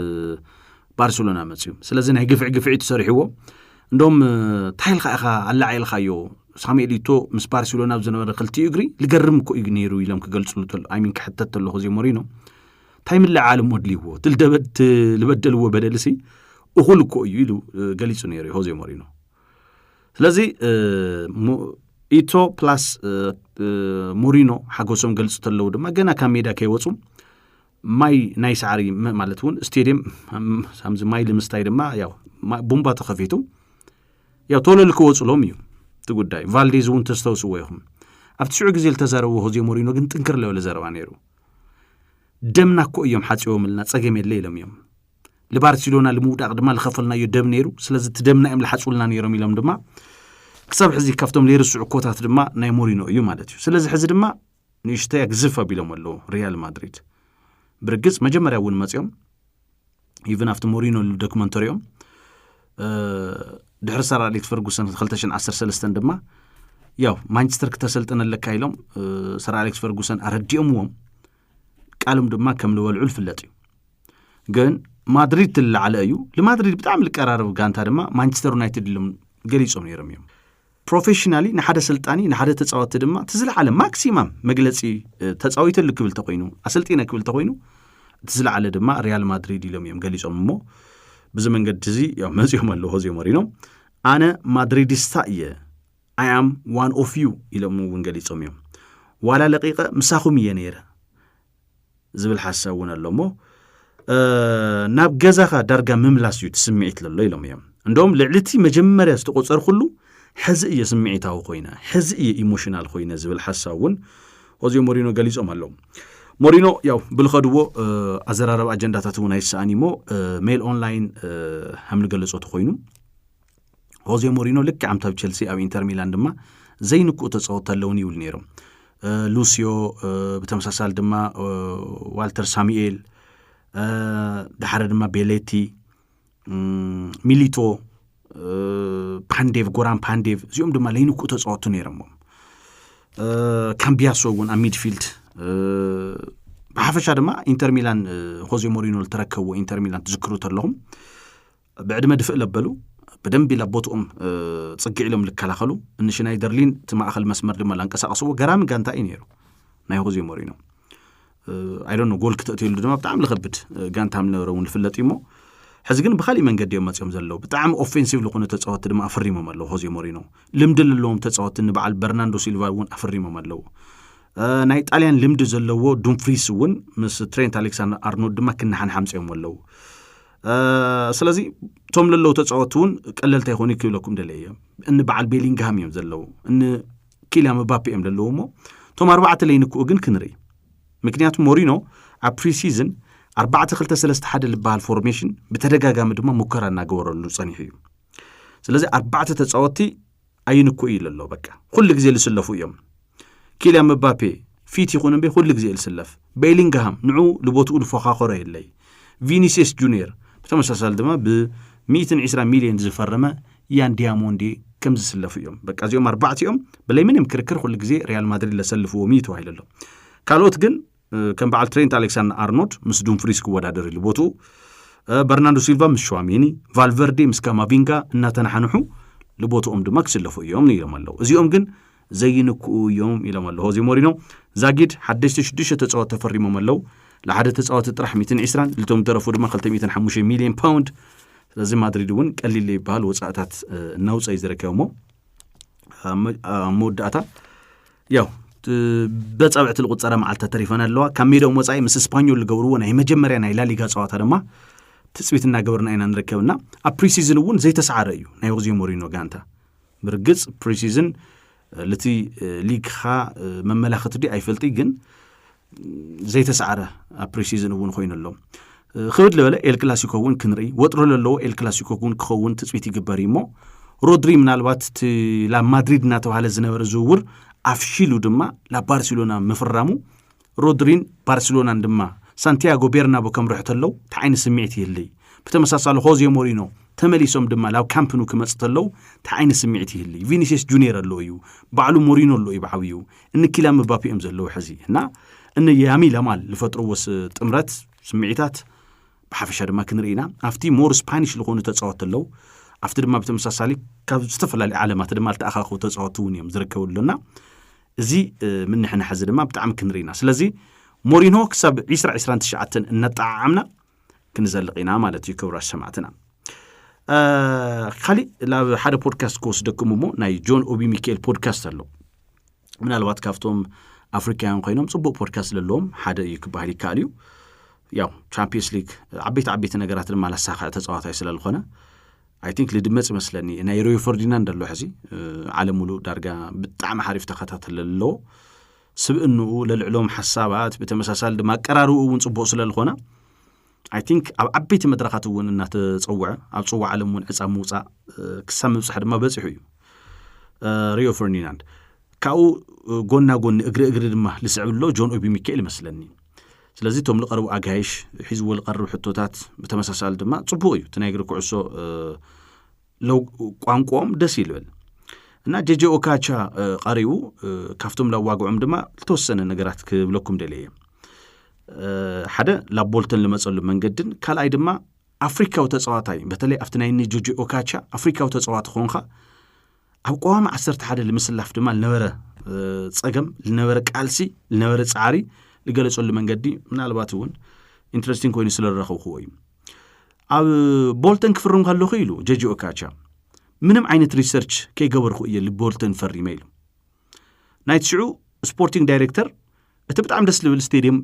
ባርሴሎና መፅዩ ስለዚ ናይ ግፍዒ ግፍዒ ትሰሪሕዎ እንዶም እንታይ ኢልካ ኢኻ ኣላዓኢልካዮ ሳሙኤ ሊቶ ምስ ባርሴሎና ኣብ ዝነበረ ክልቲኡ እግሪ ልገርም እኮ እዩ ነይሩ ኢሎም ክገልፅሉ ኣይሚን ክሕተት ተለኹ እዚ ሞሪኖ እንታይ ምልዓል እሞ ድልይዎ ልበደልዎ በደልሲ እኹል እኮ እዩ ኢሉ ገሊፁ ነይሩ እዩ ሆዜ ሞሪኖ ስለዚ ኢቶ ፕላስ ሞሪኖ ሓጎሶም ገልፁ ተለዉ ድማ ገና ካብ ሜዳ ከይወፁ ማይ ናይ ሳዕሪ ማለት እውን ስቴድየም ከምዚ ማይ ልምስታይ ድማ ያው ቡምባ ተኸፊቱ ያው ቶሎ ልክወፅሎም እዩ እቲ ጉዳይ ቫልዴዝ እውን ተስተውስዎ ይኹም ኣብ ትሽዑ ግዜ ዝተዛረብዎ ሆዜ ሞሪኖ ግን ጥንክር ለበለ ዘረባ ነይሩ ደምና እኮ እዮም ሓፂቦምልና ፀገም የለ ኢሎም እዮም ንባርሴሎና ንምውዳቕ ድማ ዝኸፈልናዮ ደም ነይሩ ስለዚ እቲ ደምና እዮም ዝሓፁልና ነይሮም ኢሎም ድማ ክሳብ ሕዚ ካብቶም ዘይርስዑ ኮታት ድማ ናይ ሞሪኖ እዩ ማለት እዩ ስለዚ ሕዚ ድማ ንእሽተይ ኣግዝፍ ኣቢሎም ኣለዉ ሪያል ማድሪድ ብርግፅ መጀመርያ እውን መፅኦም ኢቨን ኣብቲ ሞሪኖ ዶክመንተሪኦም ድሕሪ ሰር ኣሌክስ ፈርጉሰን 213 ድማ ያው ማንቸስተር ክተሰልጥነ ኣለካ ኢሎም ሰር ኣሌክስ ፈርጉሰን ኣረዲኦምዎም ቃልም ድማ ከም ዝበልዑ ዝፍለጥ እዩ ግን ማድሪድ ትለዓለ እዩ ንማድሪድ ብጣዕሚ ዝቀራረብ ጋንታ ድማ ማንቸስተር ዩናይትድ ኢሎም ገሊፆም ነይሮም እዮም ፕሮፌሽናሊ ንሓደ ኣሰልጣኒ ንሓደ ተፃወቲ ድማ እቲ ዝለዓለ ማክሲማም መግለፂ ተፃዊተሉ ክብል ተኮይኑ ኣሰልጢነ ክብል ተኮይኑ እቲ ዝለዓለ ድማ ሪያል ማድሪድ ኢሎም እዮም ገሊፆም እሞ ብዚ መንገዲ እዚ ያው መፂኦም ኣለዎ ሆዜ ሞሪኖ ኣነ ማድሪዲስታ እየ ኣይ ኣም ዋን ኦፍ ዩ ኢሎም እውን ገሊፆም እዮም ዋላ ለቂቐ ምሳኹም እየ ነይረ ዝብል ሓሳብ እውን ኣሎ እሞ ናብ ገዛኻ ዳርጋ ምምላስ እዩ እቲ ስምዒት ለሎ ኢሎም እዮም እንደም ልዕሊ እቲ መጀመርያ ዝተቆፀርኩሉ ሕዚ እየ ስምዒታዊ ኮይነ ሕዚ እየ ኢሞሽናል ኮይነ ዝብል ሓሳብ እውን ሆዜ ሞሪኖ ገሊፆም ኣለዉ ሞሪኖ ያው ብልኸድዎ ኣዘራረብ ኣጀንዳታት እውን ኣይሰኣን እሞ ሜል ኦንላይን ከም ዝገለፆ ተኮይኑ ሆዜ ሞሪኖ ልክዕ ኣምታብ ቸልሲ ኣብ ኢንተር ሚላን ድማ ዘይንክኡ ተፃወቲ ኣለውን ይብሉ ነይሮም ሉስዮ ብተመሳሳሊ ድማ ዋልተር ሳሙኤል ድሓረ ድማ ቤሌቲ ሚሊቶ ፓንዴቭ ጎራን ፓንዴቭ እዚኦም ድማ ለይንክኡ ተፃወቱ ነይሮሞም ካምቢያሶ እውን ኣብ ሚድፊልድ ብሓፈሻ ድማ ኢንተር ሚላን ሆዜ ሞሪኖ ዝተረከብዎ ኢንተር ሚላን ትዝክሩ ተለኹም ብዕድመ ድፍእ ለበሉ ብደንቢ ላብ ቦትኦም ጽግዕ ኢሎም ልከላኸሉ እንሽናይ ደርሊን እቲ ማእኸል መስመር ድማ ላንቀሳቀስዎ ገራሚ ጋንታ እዩ ነይሩ ናይ ሆዜ ሞሪኖ ኣይዶኖ ጎል ክተእትየሉ ድማ ብጣዕሚ ልኸብድ ጋንታ ምነበረ እውን ልፍለጥ እዩሞ ሕዚ ግን ብካሊእ መንገዲ እዮም መፅኦም ዘለዉ ብጣዕሚ ኦፌንሲቭ ዝኾኑ ተፃወቲ ድማ ኣፈሪሞም ኣለዉ ሆዜ ሞሪኖ ልምዲ ዘለዎም ተፃወቲ ንበዓል በርናንዶ ሲልቫ እውን ኣፈሪሞም ኣለዉ ናይ ጣልያን ልምዲ ዘለዎ ዱምፍሪስ እውን ምስ ትሬንት ኣሌክሳንደር ኣርኖልድ ድማ ክነሓንሓምፅኦም ኣለዉ ስለዚ እቶም ለለዉ ተፃወቲ እውን ቀለልቲ ኣይኮኑ ክብለኩም ደለ እዮም እኒ በዓል ቤሊንግሃም እዮም ዘለዉ እኒ ኪልያ መባፔ እዮም ዘለዉ እሞ እቶም ኣርባዕተ ለይንክኡ ግን ክንርኢ ምክንያቱ ሞሪኖ ኣብ ፕሪሲዝን ኣርባዕተ ክልተ ሰለስተ ሓደ ዝበሃል ፎርሜሽን ብተደጋጋሚ ድማ ሙከራ እናገበረሉ ፀኒሑ እዩ ስለዚ ኣርባዕተ ተፃወቲ ኣይንኩ እዩ ለሎ በቃ ኩሉ ግዜ ልስለፉ እዮም ኪልያ መባፔ ፊት ይኹን እምበይ ኩሉ ግዜ ልስለፍ ቤሊንግሃም ንዑ ልቦትኡ ልፎኻኸሮ የለይ ቪኒሲየስ ጁኒየር ብተመሳሳሊ ድማ ብ120 ሚልዮን ዝፈረመ ያን ዲያሞንዲ ከም ዝስለፉ እዮም በቃ እዚኦም ኣርባዕቲኦም ብለይ ምንም ክርክር ኩሉ ግዜ ሪያል ማድሪድ ለሰልፍዎም እዩ ተባሂሉ ኣሎ ካልኦት ግን ከም በዓል ትሬንት ኣሌክሳንደር ኣርኖልድ ምስ ዱምፍሪስ ክወዳደር ኢሉ ቦትኡ በርናንዶ ሲልቫ ምስ ሸዋሚኒ ቫልቨርዴ ምስ ካማቪንጋ እናተናሓንሑ ልቦትኦም ድማ ክስለፉ እዮም ኢሎም ኣለዉ እዚኦም ግን ዘይንክኡ እዮም ኢሎም ኣለዉ ሆዜ ሞሪኖ ዛጊድ ሓደሽተ ሽዱሽተ ተፃወት ተፈሪሞም ኣለዉ ንሓደ ተፃወቲ ጥራሕ 120 ልቶም ዝተረፉ ድማ 205 ሚሊዮን ፓውንድ ስለዚ ማድሪድ እውን ቀሊል ዘይበሃል ወፃእታት እናውፀ እዩ ዝርከብ እሞ ኣብ መወዳእታ ያው በፃብዕቲ ዝቁፀረ መዓልትታት ተሪፈን ኣለዋ ካብ ሜዳኦም ወፃኢ ምስ ስፓኞል ዝገብርዎ ናይ መጀመርያ ናይ ላሊጋ ፀዋታ ድማ ትፅቢት እናገበርና ኢና ንርከብና ኣብ ፕሪሲዝን እውን ዘይተሰዓረ እዩ ናይ ወግዚዮ ሞሪኖ ጋንታ ብርግፅ ፕሪሲዝን ልቲ ሊግኻ መመላኽቲ ዲ ኣይፈልጥ ግን ዘይተሰዓረ ኣብ ፕሪሲዝን እውን ኮይኑ ኣሎ ክብድ ልበለ ኤል ክላሲኮ እውን ክንርኢ ወጥሮ ዘለዎ ኤል ክላሲኮ እውን ክኸውን ትፅቢት ይግበር እዩ እሞ ሮድሪ ምናልባት እቲ ላብ ማድሪድ እናተባሃለ ዝነበረ ዝውውር ኣፍሺሉ ድማ ላብ ባርሴሎና ምፍራሙ ሮድሪን ባርሴሎናን ድማ ሳንቲያጎ ቤርናቦ ከምርሑ ተለው እቲ ዓይነት ስምዒት ይህልይ ብተመሳሳሊ ሆዜ ሞሪኖ ተመሊሶም ድማ ላብ ካምፕኑ ክመፅ ተለው እቲ ዓይነት ስምዒት ይህልይ ቪኒሲየስ ጁኒየር ኣሎ እዩ ባዕሉ ሞሪኖ ኣሎ እዩ ብዓብዩ እነ ኪላን ምባፔ እዮም ዘለዉ ሕዚ እና እነ ያሚ ለማል ዝፈጥርዎ ጥምረት ስምዒታት ብሓፈሻ ድማ ክንርኢ ኢና ኣብቲ ሞር ስፓኒሽ ዝኾኑ ተፃወት ኣለዉ ኣብቲ ድማ ብተመሳሳሊ ካብ ዝተፈላለዩ ዓለማት ድማ ዝተኣኻኸቡ ተፃወቲ እውን እዮም ዝርከቡ ኣሎና እዚ ምንሕናሕ እዚ ድማ ብጣዕሚ ክንርኢ ኢና ስለዚ ሞሪኖ ክሳብ 2029 እናጠዓዓምና ክንዘልቕ ኢና ማለት እዩ ክብራት ሰማዕትና ካሊእ ናብ ሓደ ፖድካስት ክወስደኩም እሞ ናይ ጆን ኦቢ ሚካኤል ፖድካስት ኣሎ ምናልባት ካብቶም ኣፍሪካውያን ኮይኖም ፅቡቅ ፖድካስት ዘለዎም ሓደ እዩ ክበሃል ይከኣል እዩ ያው ቻምፒየንስ ሊግ ዓበይቲ ዓበይቲ ነገራት ድማ ላሳኸዐ ተፃዋታይ ስለዝኾነ ኣይ ቲንክ ልድመፅ ይመስለኒ ናይ ሪዮ ፈርዲናንድ ኣሎ ሕዚ ዓለም ሙሉእ ዳርጋ ብጣዕሚ ሓሪፍ ተኸታተለ ኣለዎ ስብእንኡ ለልዕሎም ሓሳባት ብተመሳሳሊ ድማ ኣቀራርብኡ እውን ፅቡቕ ስለልኾነ ኣይ ቲንክ ኣብ ዓበይቲ መድረኻት እውን እናተፀውዐ ኣብ ፅዋዕ ዓለም እውን ዕፃ ምውፃእ ክሳብ ምብፃሕ ድማ በፂሑ እዩ ሪዮ ፈርዲናንድ ካብኡ ጎና ጎኒ እግሪ እግሪ ድማ ልስዕብ ኣሎ ጆን ኦቢ ሚካኤል ይመስለኒ ስለዚ እቶም ዝቐርቡ ኣጋይሽ ሒዝዎ ዝቐርብ ሕቶታት ብተመሳሳሊ ድማ ፅቡቕ እዩ እቲ ናይ እግሪ ኩዕሶ ቋንቋኦም ደስ ይልብል እና ጀጀ ኦካቻ ቀሪቡ ካብቶም ላዋግዖም ድማ ዝተወሰነ ነገራት ክብለኩም ደለየ ሓደ ላብ ቦልተን ዝመፀሉ መንገድን ካልኣይ ድማ ኣፍሪካዊ ተፃዋታይ በተለይ ኣብቲ ናይ ኒ ጆጆ ኦካቻ ኣፍሪካዊ ተፃዋቲ ኮንካ ኣብ ቀዋሚ ዓሰርተ ሓደ ንምስላፍ ድማ ዝነበረ ፀገም ዝነበረ ቃልሲ ዝነበረ ፃዕሪ ዝገለፀሉ መንገዲ ምናልባት እውን ኢንትረስቲንግ ኮይኑ ስለ ዝረኸብክዎ እዩ ኣብ ቦልተን ክፍርም ከለኹ ኢሉ ጀጂ ኦካቻ ምንም ዓይነት ሪሰርች ከይገበርኩ እየ ልቦልተን ፈሪመ ኢሉ ናይቲ ሽዑ ስፖርቲንግ ዳይሬክተር እቲ ብጣዕሚ ደስ ዝብል ስቴድየም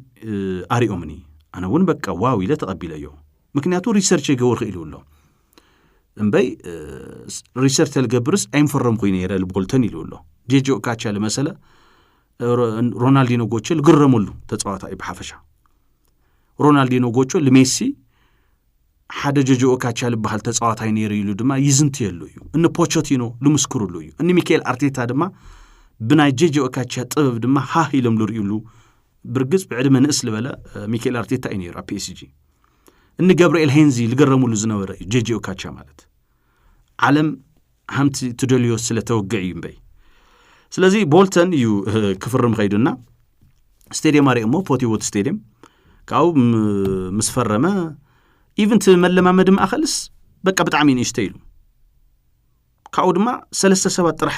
ኣሪኦምኒ ኣነ እውን በቃ ዋው ኢለ ተቐቢለዮ ምክንያቱ ሪሰርች የገበርኩ ኢሉ ኣሎ እምበይ ሪሰርች ተልገብርስ ኣይምፈረምኩ ነይረ ልቦልተን ኢሉ ኣሎ ጀጂ ኦካቻ ልመሰለ ሮናልዲኖ ጎቾ ዝግረመሉ ተፃዋታ እዩ ብሓፈሻ ሮናልዲኖ ጎቾ ልሜሲ ሓደ ጀጆኦ ካቻ ዝበሃል ተፃዋታይ ነይሩ ኢሉ ድማ ይዝንትየሉ እዩ እኒ ፖቾቲኖ ዝምስክርሉ እዩ እኒ ሚካኤል ኣርቴታ ድማ ብናይ ጀጆኦ ካቻ ጥበብ ድማ ሃህ ኢሎም ዝርእዩሉ ብርግፅ ብዕድመ ንእስ ዝበለ ሚካኤል ኣርቴታ እዩ ነይሩ ኣብ ፒኤስጂ እኒ ገብርኤል ሄንዚ ዝገረምሉ ዝነበረ እዩ ጀጆኦ ካቻ ማለት ዓለም ሃምቲ ትደልዮ ስለ ተወግዕ እዩ እምበይ ስለዚ ቦልተን እዩ ክፍርም ኸይዱና ስቴድየም ኣሪኦሞ ፖቲዎት ስቴድየም ካብኡ ምስ ፈረመ ኢቨንት መለማመዲ ማእኸልስ በቃ ብጣዕሚ ንእሽተ ኢሉ ካብኡ ድማ ሰለስተ ሰባት ጥራሕ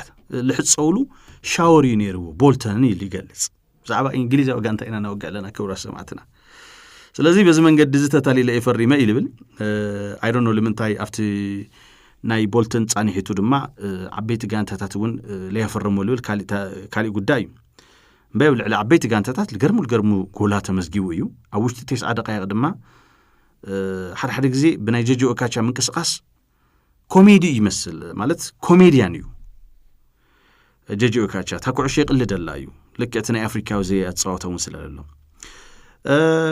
ልሕፀውሉ ሻወር እዩ ነይርዎ ቦልተን ኢሉ ይገልፅ ብዛዕባ እንግሊዛዊ ጋንታ ኢና ነወግዕ ኣለና ክብራት ሰማዕትና ስለዚ በዚ መንገዲ እዚ ተታሊለ እየ ፈሪመ እዩ ልብል ኣይዶኖ ልምንታይ ኣብቲ ናይ ቦልትን ፃኒሒቱ ድማ ዓበይቲ ጋንታታት እውን ለያፈረሞ ልብል ካሊእ ጉዳይ እዩ እምበይ ኣብ ልዕሊ ዓበይቲ ጋንታታት ልገርሙ ልገርሙ ጎላ ተመዝጊቡ እዩ ኣብ ውሽጢ ቴስዓ ደቃይቅ ድማ ሓደሓደ ግዜ ብናይ ጀጆ እካቻ ምንቅስቃስ ኮሜዲ እዩ ይመስል ማለት ኮሜድያን እዩ ጀጂ ኦካቻ እታ ኩዕሾ ይቕልደላ እዩ ልክ እቲ ናይ ኣፍሪካዊ ዘይ ኣፀዋውታ እውን ስለለሎ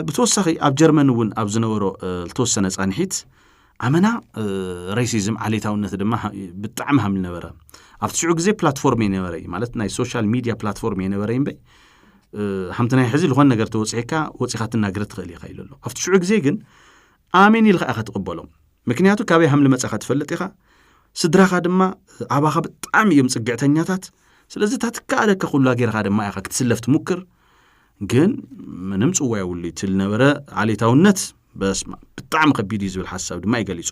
ብተወሳኺ ኣብ ጀርመን እውን ኣብ ዝነበሮ ዝተወሰነ ፃንሒት ኣመና ሬሲዝም ዓሌታውነት ድማ ብጣዕሚ ሃም ነበረ ኣብቲ ሽዑ ግዜ ፕላትፎርም የነበረ እዩ ማለት ናይ ሶሻል ሚድያ ፕላትፎርም የነበረ እምበ ሓምቲ ናይ ሕዚ ዝኾነ ነገር ተወፅሒካ ወፂኻ ትናገር ትኽእል ኢኻ ኢሉ ኣሎ ኣብቲ ሽዑ ግዜ ግን ኣሜን ኢልካ ኢኻ ትቕበሎም ምክንያቱ ካበይ ሃምሊ መጻኻ ትፈልጥ ኢኻ ስድራኻ ድማ ኣባኻ ብጣዕሚ እዮም ጽግዕተኛታት ስለዚ እታ ትከኣለካ ኩላ ጌርካ ድማ ኢኻ ክትስለፍ ትሙክር ግን ምንም ጽዋ የብሉ እቲ ዝነበረ ዓሌታውነት በስማ ብጣዕሚ ከቢድ እዩ ዝብል ሓሳብ ድማ ይገሊጹ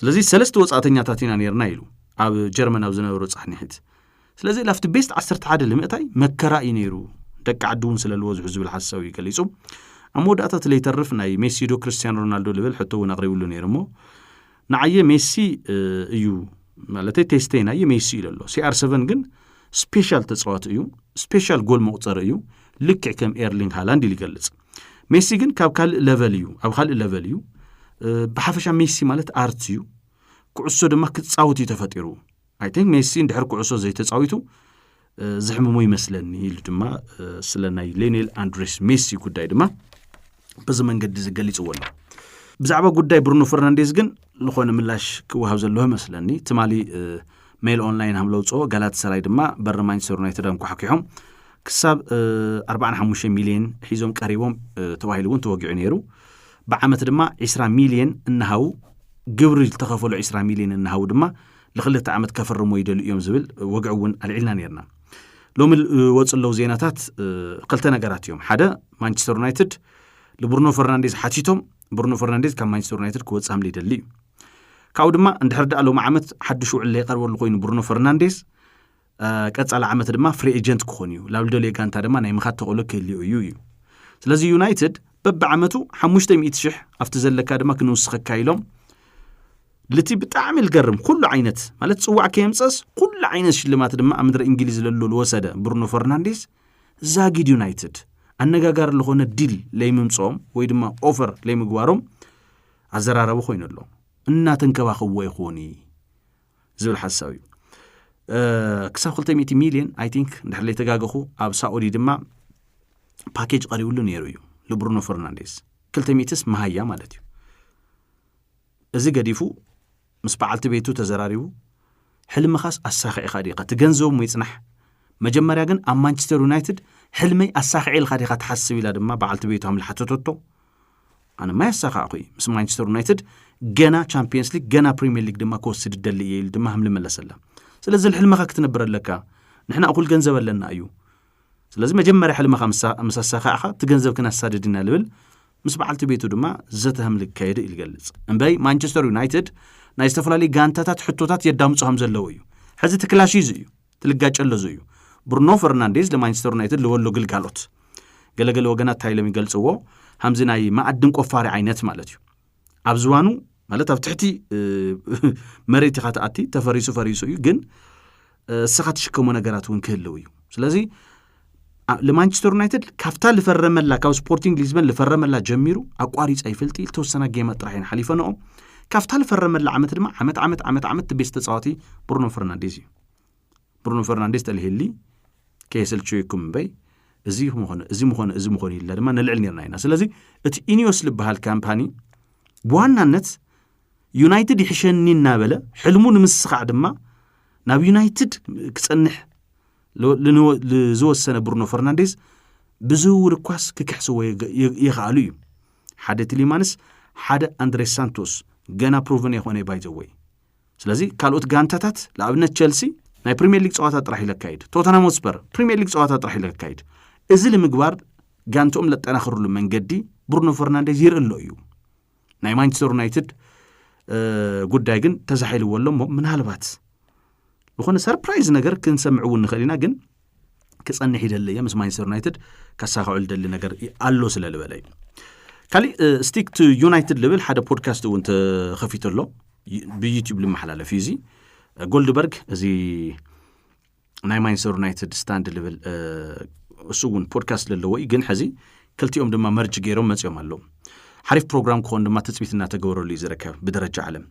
ስለዚ ሰለስተ ወጻእተኛታት ኢና ነርና ኢሉ ኣብ ጀርመን ኣብ ዝነበሩ ጻሕኒሒት ስለዚ ላፍቲ ቤስት ዓሰርተ ሓደ ልምእታይ መከራ እዩ ነይሩ ደቂ ዓዲ እውን ስለልዎ ዝሑ ዝብል ሓሳብ እዩ ገሊጹ ኣብ መወዳእታ እቲ ለይተርፍ ናይ ሜሲዶ ክርስትያን ሮናልዶ ልብል ሕቶ እውን ኣቕሪብሉ ነይሩ እሞ ንዓየ ሜሲ እዩ ማለተይ ቴስተይ ናየ ሜሲ እዩ ለሎ ሲኣር ሰቨን ግን ስፔሻል ተፃዋቲ እዩ ስፔሻል ጎል መቁፀሪ እዩ ልክዕ ከም ኤርሊንግ ሃላንድ ኢሉ ይገልጽ ሜሲ ግን ካብ ካልእ ለቨል እዩ ኣብ ካልእ ለቨል እዩ ብሓፈሻ ሜሲ ማለት ኣርት እዩ ኩዕሶ ድማ ክፃወት እዩ ተፈጢሩ ኣይ ቲንክ ሜሲ እንድሕር ኩዕሶ ዘይተፃዊቱ ዘሕምሞ ይመስለኒ ኢሉ ድማ ስለ ናይ ሌኔል ኣንድሬስ ሜሲ ጉዳይ ድማ በዚ መንገዲ እዚ ገሊፅዎ ኣሎ ብዛዕባ ጉዳይ ብሩኖ ፈርናንዴዝ ግን ዝኾነ ምላሽ ክወሃብ ዘለዎ መስለኒ ትማሊ ሜል ኦንላይን ሃም ለውፅኦ ጋላት ሰራይ ድማ በሪ ማንቸስተር ዩናይትድ ኣንኳሓኪሖም ክሳብ 45 ሚልዮን ሒዞም ቀሪቦም ተባሂሉ እውን ተወጊዑ ነይሩ ብዓመት ድማ 20 ሚልዮን እናሃው ግብሪ ዝተኸፈሉ 20 ሚልዮን እናሃው ድማ ንክልተ ዓመት ከፍርሞ ይደልዩ እዮም ዝብል ወግዒ እውን ኣልዒልና ነርና ሎሚ ዝወፁ ኣለዉ ዜናታት ክልተ ነገራት እዮም ሓደ ማንቸስተር ዩናይትድ ንብሩኖ ፈርናንዴዝ ሓቲቶም ብሩኖ ፈርናንዴዝ ካብ ማንቸስተር ዩናይትድ ክወፅእ ሃምለ ይደሊ እዩ ካብኡ ድማ እንድሕር ደኣ ሎሚ ዓመት ሓድሽ ውዕል ዘይቀርበሉ ኮይኑ ብሩኖ ፈርናንዴዝ ቀፃሊ ዓመት ድማ ፍሪ ኤጀንት ክኾን እዩ፣ ላብ ልደልዮ ጋንታ ድማ ናይ ምኻድ ተኽእሎ ክህልዮ እዩ እዩ። ስለዚ ዩናይትድ በብዓመቱ ሓሙሽተ ሚእቲ ሽሕ ኣብቲ ዘለካ ድማ ክንውስኸካ ኢሎም ልቲ ብጣዕሚ ልገርም ኩሉ ዓይነት ማለት ጽዋዕ ከየምጸስ ኩሉ ዓይነት ሽልማት ድማ ኣብ ምድረ እንግሊዝ ለሉ ልወሰደ ብሩኖ ፈርናንዴዝ ዛጊድ ዩናይትድ ኣነጋጋሪ ዝኾነ ዲል ለይምምጾም ወይ ድማ ኦፈር ለይምግባሮም ኣዘራረቢ ኮይኑ ኣሎ እናተንከባኸብዎ ይኾን እዩ ዝብል ሓሳብ እዩ ክሳብ 200 ሚልዮን ኣይ ቲንክ እንድሕር ዘይተጋገኹ ኣብ ሳኡዲ ድማ ፓኬጅ ቀሪብሉ ነይሩ እዩ ንብሩኖ ፈርናንዴዝ 200ስ መሃያ ማለት እዩ እዚ ገዲፉ ምስ በዓልቲ ቤቱ ተዘራሪቡ ሕልምኻስ ኣሳኺዕኻ ዲኻ ትገንዘቡ ይፅናሕ መጀመርያ ግን ኣብ ማንቸስተር ዩናይትድ ሕልመይ ኣሳኺዐ ኢልካ ዲኻ ትሓስብ ኢላ ድማ በዓልቲ ቤቱ ሃምልሓተተቶ ኣነማ ያሳኻዕኹ እዩ ምስ ማንቸስተር ዩናይትድ ገና ቻምፒየንስ ሊግ ገና ፕሪምየር ሊግ ድማ ክወስድ ደሊ እየ ኢሉ ድማ ህምሊ መለሰላ ስለዚ ልሕልምኻ ክትነብር ኣለካ ንሕና እኹል ገንዘብ ኣለና እዩ ስለዚ መጀመርያ ሕልምኻ ምስ ኣሳኻዕኻ እቲ ገንዘብ ክነሳድድ ኢና ልብል ምስ በዓልቲ ቤቱ ድማ ዘተ ህምሊ ክካየድ እዩ ዝገልጽ እምበይ ማንቸስተር ዩናይትድ ናይ ዝተፈላለዩ ጋንታታት ሕቶታት የዳምፁ ከም ዘለዉ እዩ ሕዚ እቲ ክላሽ እዚ እዩ ትልጋጨ ኣሎ ዞዩ ብሩኖ ፈርናንዴዝ ለማንቸስተር ዩናይትድ ልበሎ ግልጋሎት ገለገለ ወገናት እንታይ ኢሎም ይገልጽዎ ሃምዚ ናይ መኣድን ቆፋሪ ዓይነት ማለት እዩ ኣብ ዝባኑ ማለት ኣብ ትሕቲ መሬት ኢኻ ትኣቲ ተፈሪሱ ፈሪሱ እዩ ግን እስኻ ትሽከሞ ነገራት እውን ክህልው እዩ ስለዚ ንማንቸስተር ዩናይትድ ካብታ ዝፈረመላ ካብ ስፖርቲንግ ሊዝበን ዝፈረመላ ጀሚሩ ኣቋሪፃ ይፈልጢ ዝተወሰና ጌማት ጥራሕ እየን ሓሊፈንኦ ካብታ ዝፈረመላ ዓመት ድማ ዓመት ዓመት ዓመት ዓመት ቤስ ተፃዋቲ ብሩኖ ፈርናንዴዝ እዩ ብሩኖ ፈርናንዴስ ተልሂሊ ከየሰልቸዩኩም እምበይ እዚ ምኾነ እዚ ምኾነ እዚ ምኾነ ኢልና ድማ ነልዕል ነርና ኢና ስለዚ እቲ ኢኒዮስ ዝበሃል ካምፓኒ ብዋናነት ዩናይትድ ይሕሸኒ እናበለ ሕልሙ ንምስኻዕ ድማ ናብ ዩናይትድ ክጸንሕ ዝወሰነ ብሩኖ ፈርናንዴስ ብዝውውር እኳስ ክክሕስዎ ይኽኣሉ እዩ ሓደ ቲሊማንስ ሓደ ኣንድሬ ሳንቶስ ገና ፕሮቨን የኾነ ባይዘወይ ስለዚ ካልኦት ጋንታታት ንኣብነት ቸልሲ ናይ ፕሪምየር ሊግ ፀዋታ ጥራሕ ኢለካይድ ቶተናም ሆትስፐር ፕሪምየር ሊግ ፀዋታ ጥራሕ ኢለካይድ እዚ ንምግባር ጋንትኦም ለጠናኽርሉ መንገዲ ብሩኖ ፈርናንዴዝ ይርኢ ኣሎ እዩ ናይ ማንቸስተር ዩናይትድ ጉዳይ ግን ተዛሒልዎ ኣሎ እሞ ምናልባት ዝኾነ ሰርፕራይዝ ነገር ክንሰምዕ እውን ንኽእል ኢና ግን ክጸንሕ ይደሊ እየ ምስ ማንቸስተር ዩናይትድ ከሳኽዑ ዝደሊ ነገር ኣሎ ስለ ዝበለ እዩ ካሊእ ስቲክ ቱ ዩናይትድ ልብል ሓደ ፖድካስት እውን ተኸፊቱ ኣሎ ብዩትብ ልመሓላለፍ እዩ እዚ ጎልድበርግ እዚ ናይ ማንቸስተር ዩናይትድ ስታንድ ልብል እሱ እውን ፖድካስት ዘለዎ እዩ ግን ሕዚ ክልቲኦም ድማ መርጅ ገይሮም መፅኦም ኣለዉ ሓሪፍ ፕሮግራም ክኾን ድማ ትፅቢት እናተገበረሉ እዩ ዝርከብ ብደረጃ ዓለም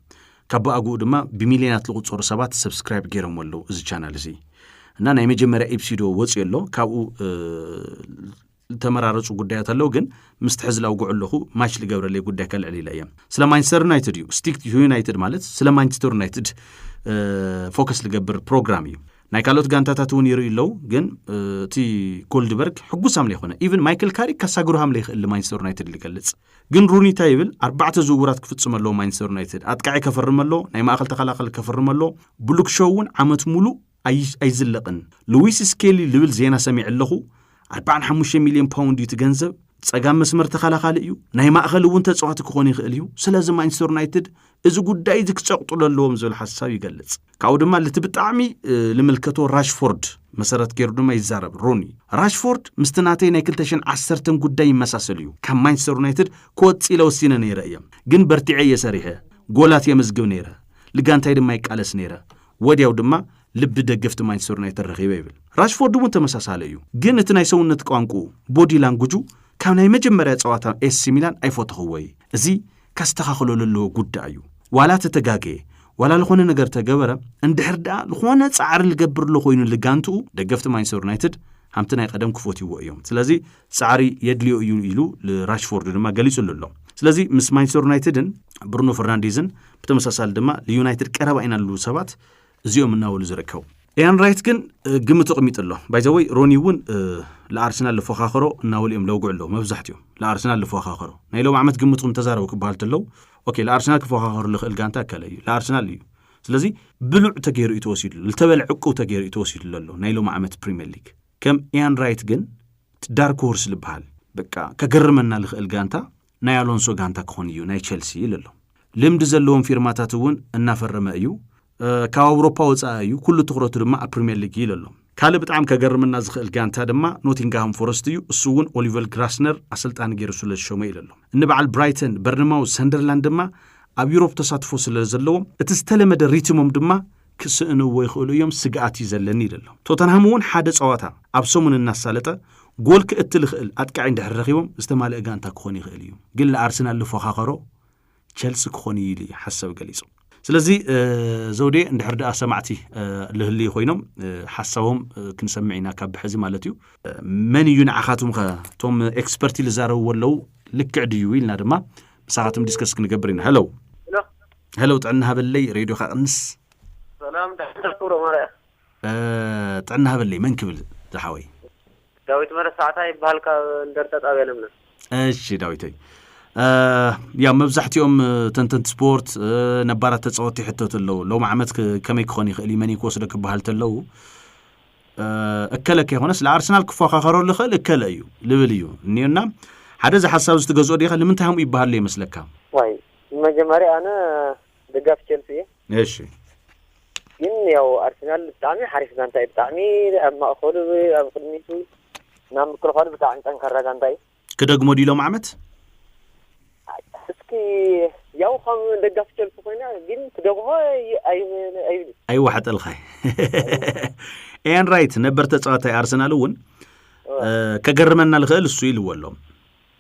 ካብ ብኣግኡ ድማ ብሚልዮናት ዝቑጸሩ ሰባት ሰብስክራይብ ገይሮሞ ኣለዉ እዚ ቻናል እዚ እና ናይ መጀመርያ ኢፕሲዶ ወፅዮ ኣሎ ካብኡ ዝተመራረፁ ጉዳያት ኣለዉ ግን ምስቲ ሕዚ ላውግዑ ኣለኹ ማች ዝገብረለይ ጉዳይ ከልዕል ኢለ እየ ስለ ማንቸስተር ዩናይትድ እዩ ስቲክ ዩናይትድ ማለት ስለ ማንቸስተር ዩናይትድ ፎከስ ዝገብር ፕሮግራም እዩ ናይ ካልኦት ጋንታታት እውን ይርእዩ ኣለዉ ግን እቲ ኮልድበርግ ሕጉስ ኣምለ ይኮነ ኢቨን ማይክል ካሪክ ካሳግሩ ሃምለ ይኽእል ማንቸስተር ዩናይትድ ዝገልጽ ግን ሩኒ እንታይ ይብል ኣርባዕተ ዝውውራት ክፍጽም ኣለዎ ማንቸስተር ዩናይትድ ኣጥቃዒ ከፈርም ኣለዎ ናይ ማእኸል ተኸላኸሊ ከፈርም ኣለዎ ብሉክሾው እውን ዓመት ሙሉእ ኣይዝለቕን ልዊስ ስኬሊ ልብል ዜና ሰሚዐ ኣለኹ ኣርባዓን ሓሙሽተ ሚልዮን ፓውንድ እዩ እቲ ገንዘብ ጸጋም መስመር ተኸላኻሊ እዩ ናይ ማእኸል እውን ተጻዋቲ ክኾን ይኽእል እዩ ስለዚ ማንቸስተር ዩናይትድ እዚ ጉዳይ እዚ ክጸቕጥሉ ኣለዎም ዝብል ሓሳብ ይገልጽ። ካብኡ ድማ ልቲ ብጣዕሚ ልምልከቶ ራሽፎርድ መሰረት ገይሩ ድማ ይዛረብ ሩኒ። ራሽፎርድ ምስቲ ናተይ ናይ 2010 ጉዳይ ይመሳሰል እዩ። ካብ ማንቸስተር ዩናይትድ ክወጽእ ኢለ ወሲነ ነይረ እየ፣ ግን በርቲዐ እየ ሰሪሐ፣ ጎላት የመዝግብ ነይረ፣ ልጋንታይ ድማ ይቃለስ ነይረ፣ ወዲያው ድማ ልቢ ደገፍቲ ማንቸስተር ዩናይትድ ረኺበ ይብል። ራሽፎርድ እውን ተመሳሳለ እዩ፣ ግን እቲ ናይ ሰውነት ቋንቁ ቦዲ ላንጉጁ ካብ ናይ መጀመርያ ጸዋታ ኤሲ ሚላን ኣይፎተኽዎይ፣ እዚ ከስተኻኽሎ ለለዎ ጉዳይ እዩ። ዋላ ተተጋገየ፣ ዋላ ልኾነ ነገር ተገበረ፣ እንድሕር ደኣ ልኾነ ጻዕሪ ልገብር ኣሎ ኮይኑ ልጋንትኡ፣ ደገፍቲ ማንቸስተር ዩናይትድ ሃምቲ ናይ ቀደም ክፎትይዎ እዮም። ስለዚ ጻዕሪ የድልዮ እዩ ኢሉ ልራሽፎርድ ድማ ገሊጹሉ ኣሎ። ስለዚ ምስ ማንቸስተር ዩናይትድን ብሩኖ ፈርናንዴዝን ብተመሳሳሊ ድማ ልዩናይትድ ቀረባ ኢና ልብሉ ሰባት እዚኦም እናበሉ ዝርከቡ ኢያን ራይት ግን ግምት ኣቕሚጡ ኣሎ ባይዘወይ ሮኒ እውን ንኣርሰናል ዝፎኻኸሮ እናበሉ እዮም ለውግዑ ኣለዉ መብዛሕትኦም ንኣርሰናል ዝፎኻኸሮ ናይ ሎም ዓመት ግምትኩም ተዛረቡ ክበሃል ተለዉ ኦኬ ንኣርሰናል ክፎኻኸሩ ልኽእል ጋንታ ከለ እዩ ንኣርሰናል እዩ ስለዚ ብሉዕ ተገይሩ እዩ ተወሲዱ ዝተበለ ዕቁብ ተገይሩ እዩ ተወሲዱ ዘሎ ናይ ሎም ዓመት ፕሪምየር ሊግ ከም ኢያን ራይት ግን ዳርክ ሆርስ ዝበሃል በቃ ከገርመና ዝኽእል ጋንታ ናይ ኣሎንሶ ጋንታ ክኾን እዩ ናይ ቸልሲ ኢሉ ኣሎ። ልምዲ ዘለዎም ፊርማታት እውን እናፈረመ እዩ። ካብ ኣውሮፓ ወፃኢ እዩ፣ ኩሉ ትኹረቱ ድማ ኣብ ፕሪምየር ሊግ እዩ ኢሉ ኣሎ። ካልእ ብጣዕሚ ከገርመና ዝኽእል ጋንታ ድማ ኖቲንግሃም ፎረስት እዩ፣ እሱ እውን ኦሊቨር ግራስነር ኣሰልጣኒ ገይሩ ስለዝሾሞ እዩ ኢሉ ኣሎ። እኒ በዓል ብራይተን፣ በርንማውዝ፣ ሰንደርላንድ ድማ ኣብ ዩሮፕ ተሳትፎ ስለዘለዎም እቲ ዝተለመደ ሪትሞም ድማ ክስእንዎ ይኽእሉ እዮም ስግኣት እዩ ዘለኒ ኢሉ ኣሎ። ቶተንሃም እውን ሓደ ፀዋታ ኣብ ሰሙን እናሳለጠ ጎል ክእቲ ልኽእል ኣጥቃዒ እንድሕር ረኺቦም ዝተማልእ ጋንታ ክኾን ይኽእል እዩ። ግን ልኣርሰናል ልፎኻኸሮ ቸልሲ ክኾን እዩ ኢሉ ሓሳብ ገሊፁ። ስለዚ ዘውዴ እንድሕር ድኣ ሰማዕቲ ልህልዩ ኮይኖም ሓሳቦም ክንሰምዕ ኢና ካብ ብሐዚ ማለት እዩ። መን እዩ ንዓኻትኩም ከ እቶም ኤክስፐርቲ ልዛረብዎ ኣለው ልክዕ ድዩ ኢልና ድማ ምሳኻትም ዲስከስ ክንገብር ኢና። ሀለው ሄሎ ጥዕና ሃበለይ ሬድዮካ ቅንስ ሰላም ዳክተር ክብሮ ማርያ ጥዕና ሃበለይ መን ክብል ዝሓወይ ዳዊት መረሳዕታ ይበሃል ካብ እንደርታ ጣብያ ለምለም እሺ ዳዊተይ ያው መብዛሕትኦም ተንተንቲ ስፖርት ነባራት ተፃወቲ ሕተት ኣለዉ ሎም ዓመት ከመይ ክኾን ይኽእል እዩ መን ክወስዶ ክበሃል ተለዉ እከለ ከይኮነስ ንኣርሰናል ክፎካኸረሉ ይኽእል እከለ እዩ ልብል እዩ እኒኦና ሓደ እዚ ሓሳብ እዚ ትገዝኦ ዲኻ ንምንታይ ሃምኡ ይበሃሉ ይመስለካ ዋይ ብመጀመርያ ኣነ ደጋፊ ቸልሲ እየ። እሺ። ግን ያው ኣርሰናል ብጣዕሚ ሓሪፍ ጋንታ እዩ። ብጣዕሚ ኣብ ማእከሉ ኣብ ቅድሚቱ ናብ ምክልኻሉ ብጣዕሚ ጠንካራ ጋንታ እዩ። ክደግሞ ድዩ ሎም ዓመት? እስኪ ያው ከም ደጋፊ ቸልሲ ኮይነ ግን ክደግሞ ኣይብል ኣይዋሓጠልካ ኤን ራይት ነበር ተጻዋታይ ኣርሰናል እውን ከገርመና ልኽእል እሱ ኢልዎ ኣሎ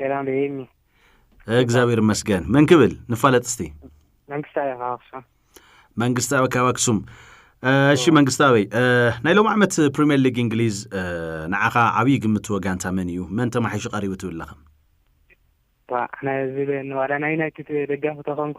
ሰላም ዶ ኤርሚ እግዚኣብሔር ይመስገን መን ክብል ንፋለጥ እስቲ መንግስታዊ ካብ ኣክሱም መንግስታዊ ካብ ኣክሱም እሺ መንግስታዊ ናይ ሎም ዓመት ፕሪምየር ሊግ እንግሊዝ ንዓኻ ዓብዪ ግምት ወጋንታ መን እዩ መን ተማሒሹ ቀሪቡ ትብል ኣለኻ ዋ ኣነ ዝብል ዋላ ናይ ዩናይትድ ደጋፊ ተኾንኩ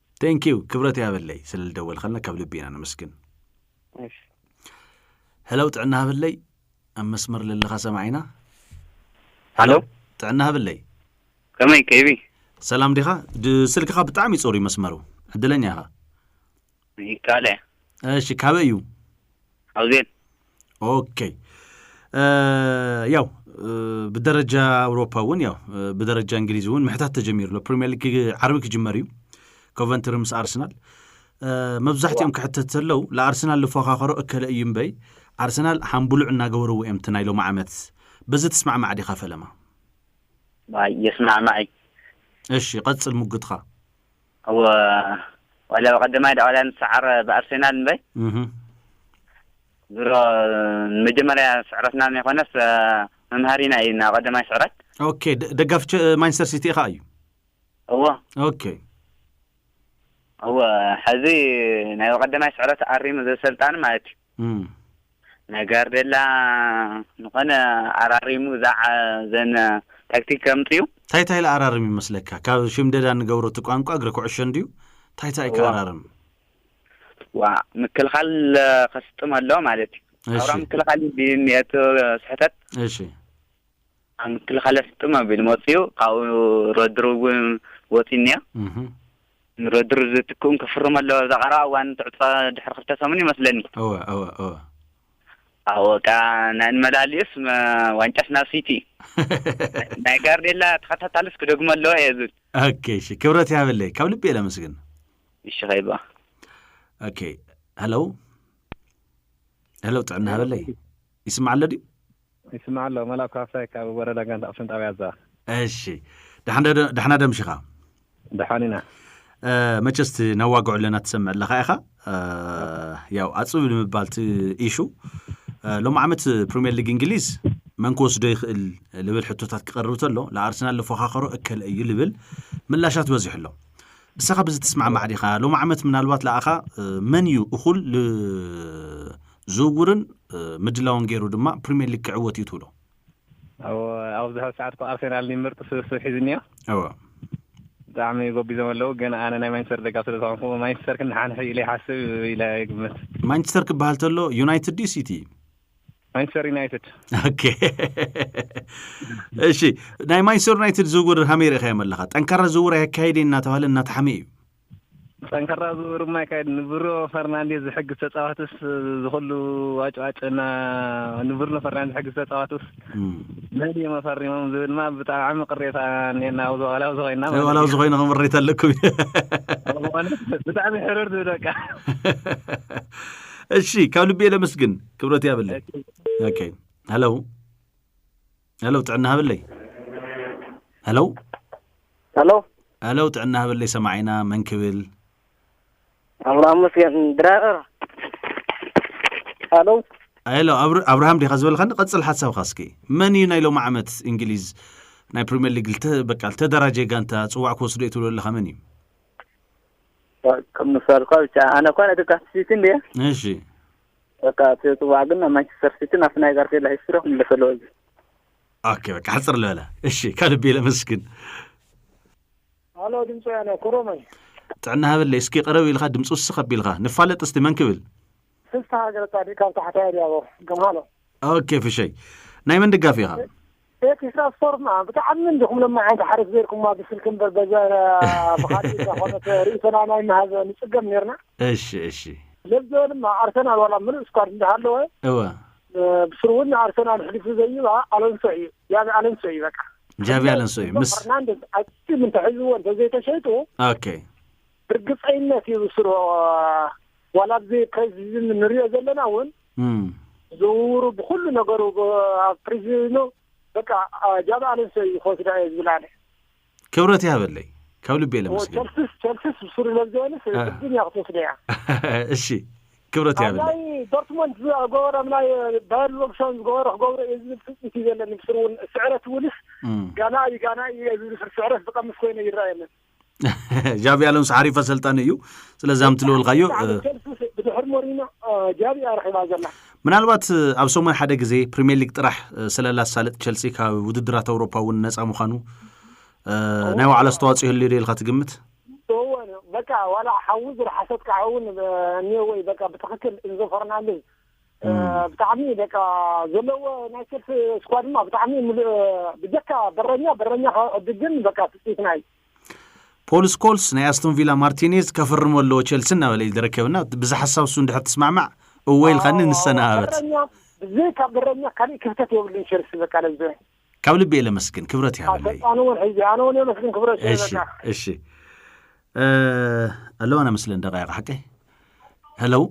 Thank you ክብረት ያበለይ ስለልደወልኸልና ካብ ልቢ ኢና ነመስግን። እሺ ሄለው ጥዕና ሃበለይ ኣብ መስመር ለለኻ ሰማዒና ሃሎ ጥዕና ሃበለይ ከመይ ከይቢ ሰላም ዲኻ ድ- ስልክኻ ብጣዕሚ ጽሩ እዩ መስመሩ ዕድለኛ ኢኻ ይካለ እሺ ካበይ እዩ ሓውዜን ኦኬይ ያው ብደረጃ ኣውሮፓ እውን ያው ብደረጃ እንግሊዝ እውን ምሕታት ተጀሚሩ ኣሎ ፕሪምየር ሊግ ዓርቢ ክጅመር እዩ ኮቨንትሪ ምስ ኣርሰናል መብዛሕትኦም ክሕተት ዘለው ንኣርሰናል ዝፎኻኸሮ እከለ እዩ እምበይ ኣርሰናል ሓምቡሉዕ እናገበርዎ እዮም እቲ ናይ ሎሚ ዓመት በዚ ትስማዕማዕ ዲኻ ፈለማ የስማዕማዕ እሺ ቀፅል ሙግትኻ እወ ዋላ ብቀዳማይ ዳዕዋላይ ንሰዓር ብኣርሴናል እምበይ ድሮ ንመጀመርያ ስዕረትና ዘይኮነስ መምሃሪና እዩ ናብ ቀዳማይ ስዕረት ኦኬ ደጋፊ ማንቸስተር ሲቲ ኢኻ እዩ እወ ኦኬ እወ ሕዚ ናይ ቀዳማይ ስዕረት ኣሪሙ ዘሰልጣኒ ማለት እዩ ናይ ጋርደላ ንኮነ ኣራሪሙ ዛዕ ዘን ታክቲክ ከምጽኡ። ታይ ታይ ልኣራርም ይመስለካ ካብ ሽምደዳ ንገብሮ እቲ ቋንቋ እግሪ ኩዕሾ እንድዩ ታይ ታይ ክኣራርም። ዋእ ምክልኻል ከስጥም ኣለዎ ማለት እዩ። ኣውራ እሺ ምክልኻል እንድዩ ዝኒሀ እቲ ስሕተት። እሺ። ኣብ ምክልኻል እያ ስጥም ኣቢሉ መጺኡ ካብኡ ረድሩ እውን ወጺኡ እኒኦ እህ ንረድሩ ዝትክኡን ክፍርሙ ኣለዎ ኣብዛ ቀረባ እዋን ትዕጾ ድሕሪ ክልተ ሰሙን እዩ መስለኒ እወ እወ እወ ኣብኡ በቃ ናይ ንመላሊኡስ መ- ዋንጫስ ናብ ሲቲ ናይ ጋርዴላ ተኸታታልስ ክደግሞ ኣለዎ እየ ዝብል ኦኬ እሺ ክብረት ያበለይ ካብ ልቢ እየ ለመስግን እሺ ኸይባ ኦኬ ሄሎ ሄሎ ጥዕና ሃበለይ ይስማዕ ኣሎ ድዩ? ይስማዕ ኣሎ መላኩ ሃፍታይ ካብ ወረዳ ጋንታ ኣክሱም ጣብያ ኣዛባ። እሺ ዳሕና ዶ ኣምሽኻ? ደሓን ኢና። መቸስ እቲ ነዋግዖ ኣለና ትሰምዕ ኣለኻ ኢኻ ያው ኣፅብ ንምባል እቲ ኢሹ ሎም ዓመት ፕሪምየር ሊግ እንግሊዝ መን ክወስዶ ይኽእል ልብል ሕቶታት ክቐርብ ተሎ ንኣርሰናል ዝፎኻኸሮ እከለ እዩ ልብል ምላሻት በዚሑ ኣሎ እሰኻ ብዚ ትስማዕማዕ ዲኻ ሎም ዓመት ምናልባት ለኣኻ መን እዩ እኹል ዝውውርን ምድላውን ገይሩ ድማ ፕሪምየር ሊግ ክዕወት እዩ ትብሎ? እወ ኣብ ዝሐ ሰዓት እኮ ኣርሰናል ን ምርጥ ስብስብ ሒዙ እኒኦ እወ ብጣዕሚ ጎቢዞም ኣለው ግን ኣነ ናይ ማንቸስተር ደጋፊ ስለ ዝኾንኩ ማንቸስተር ክንሓንሕ ኢለ ይሓስብ ኢለ ይግምት ማንቸስተር ክበሃል ተሎ ዩናይትድ ድዩ ሲቲ ማንቸስተር ዩናይትድ ኦኬ እሺ ናይ ማንቸስተር ዩናይትድ ዝውውር ሃመይ ርኢኻዮም ኣለኻ ጠንካራ ዝውውር ኣየካየደ እናተባህለ እናተሓመ እዩ ጠንካራ ዝውውር እማ ይካየድ ንብሮ ፈርናንዴዝ ዝሕግዝ ተጻዋትስ ዝኹሉ ዋጭዋጭ እና ንብርኖ ፈርናንዴዝ ዝሕግዝ ተጻዋትስ መን እዮም ኣፈሪሞም ዝብል ማ ብጣዕሚ ቅሬታ እኔና ኣብዚ ዋላ ኣብዚ ኮይና ማለት ዋላ እዩ። ዝኾይነ ክምሬት ኣለኩም እዩ ዝኾነ ብጣዕሚ ሕርር ዝብል በቃ እሺ ካብ ልቤ ለመስግን ክብረት ያብለይ ኦኬ ሄሎ ሄሎ ጥዕና ሃበለይ ሄሎ ሄሎ ሄሎ ጥዕና ሃበለይ ሰማዒና መን ክብል ኣምላኽ መስገን ድራር ሄሎ ሄሎ ኣብር- ኣብርሃም ዲኻ ዝበልካኒ ቀፅል ሓሳብካ እስኪ መን እዩ ናይ ሎሚ ዓመት እንግሊዝ ናይ ፕሪምየር ሊግ ልተ- በቃ ልተደራጀ ጋንታ ፅዋዕ ክወስዶ እዩ ትብሎ ኣለካ መን እዩ ከም ምሳልኳ ብቻ ኣነ እኳ ነቲ ካስሲቲ እንድየ እሺ በቃ እቲ ፅዋዕ ግን ናብ ማንቸስተር ሲቲ ናብቲ ናይ ጋርዲዮላ ሂስትሪ ክምለሰ ኣለዎ እዚ ኦኬ በቃ ሕፅር ልበለ እሺ ከልቢ ለመስግን ሃሎ ድምፂ ወያነ ኮሮመይ ጥዕና ሃበለይ እስኪ ቀረብ ኢልካ ድምፂ ውስኽ ኣቢልካ ንፋለጥ እስቲ መን ክብል ፍስሓ ገረፃዲቅ ካብ ታሕታይ ኣድያቦ ገምሃሎ ኦኬ ፍሸይ ናይ መን ደጋፊ ኢኻ ቤት ኢሳያስ ፎርም ብጣዕሚ እንዲኹም ሎማዓንቲ ሓደ ተዘይርኩማ ብስልኪ እምበር በዘ ብኻልእ እንተኾነት ርእቶና ናይ ምሃብ ንጽገም ኔርና። እሺ እሺ። ለብዘ ድማ ኣርሰናል ዋላ ምሉእ ስኳድ እንዳሃለወ እወ። ብስሩ ውን ንኣርሰናል ኣሕሊፉ ዘይባ ኣሎንሶ እዩ ጃቢ ኣሎንሶ እዩ በቃ። ጃቢ ኣሎንሶ እዩ ምስ ፈርናንደዝ ኣቲም እንተሒዝዎ እንተዘይተሸይጡ ኦኬ። ብርግጸይነት እዩ ብስሩ ዋላ ኣብዚ ፕሬዚድን ንሪኦ ዘለና እውን ዝውውሩ ብኩሉ ነገሩ ኣብ ፕሬዚድኑ በቃ ጃብ ኣለንሶ እዩ ክወስዳ እየ ዝብል ኣነ ክብረት ይሃበለይ ካብ ልቤ ለመስግን ቸልስስ ቸልስስ ብሱሩ ለብዘበንስ ቅድም እያ ክትወስደ እያ እሺ ክብረት ይሃበለይ ናይ ዶርትሞንድ ዝገበሮ ናይ ባየር ሎብሶን ዝገበሮ ክገብሮ እዩ ዝብል ትፅቢት እዩ ዘለኒ ብሱሩ እውን ስዕረት ውልስ ጋና እዩ ጋና እዩ ዝብል ስዕረት ዝቐምስ ኮይነ ይረኣየንን ጃቪ ኣሎንሶ ሓሪፍ ኣሰልጣኒ እዩ ስለዚ ኣምቲ ልወልካዮ ብድሕሪ ሞሪኖ ጃቪ እያ ረኪባ ዘላ ምናልባት ኣብ ሰሙን ሓደ ግዜ ፕሪምየር ሊግ ጥራሕ ስለላ ሳልጥ ቸልሲ ካብ ውድድራት ኣውሮፓ እውን ነፃ ምዃኑ ናይ ባዕላ ኣስተዋፅኦ ይህልዩ ዶ ኢልካ ትግምት በቃ ዋላ ሓዊ ዝረሓሰት ከዓ እውን እኒኦ ወይ በቃ ብትክክል እንዞ ፈርናንዴዝ ብጣዕሚ በቃ ዘለዎ ናይ ቸልሲ ስኳድ ድማ ብጣዕሚ ምሉእ ብጀካ በረኛ በረኛ ካብ ዕድግ ግን በቃ ትፅኢት ናይ ፖል ስኮልስ ናይ ኣስቶን ቪላ ማርቲኔዝ ከፍርሞ ኣለዎ ቸልሲ እናበለ እዩ ዝረከብና ብዛ ሓሳብ እሱ እንድሕር ትስማዕማዕ እወ ኢልካኒ ንሰነባበት በረኛ ብዘይ ካብ በረኛ ካሊእ ክፍተት የብሉን ቸልሲ በቃ ለዘ ካብ ልቢ እየ ለመስግን ክብረት ይሃበለይ ኣሰልጣኒ እውን ሕዚ ኣነ እውን የመስግን ክብረት ሸ እሺ በቃ እሺ ኣለዋና ምስለን ደቃይቅ ሓቀይ ሄለው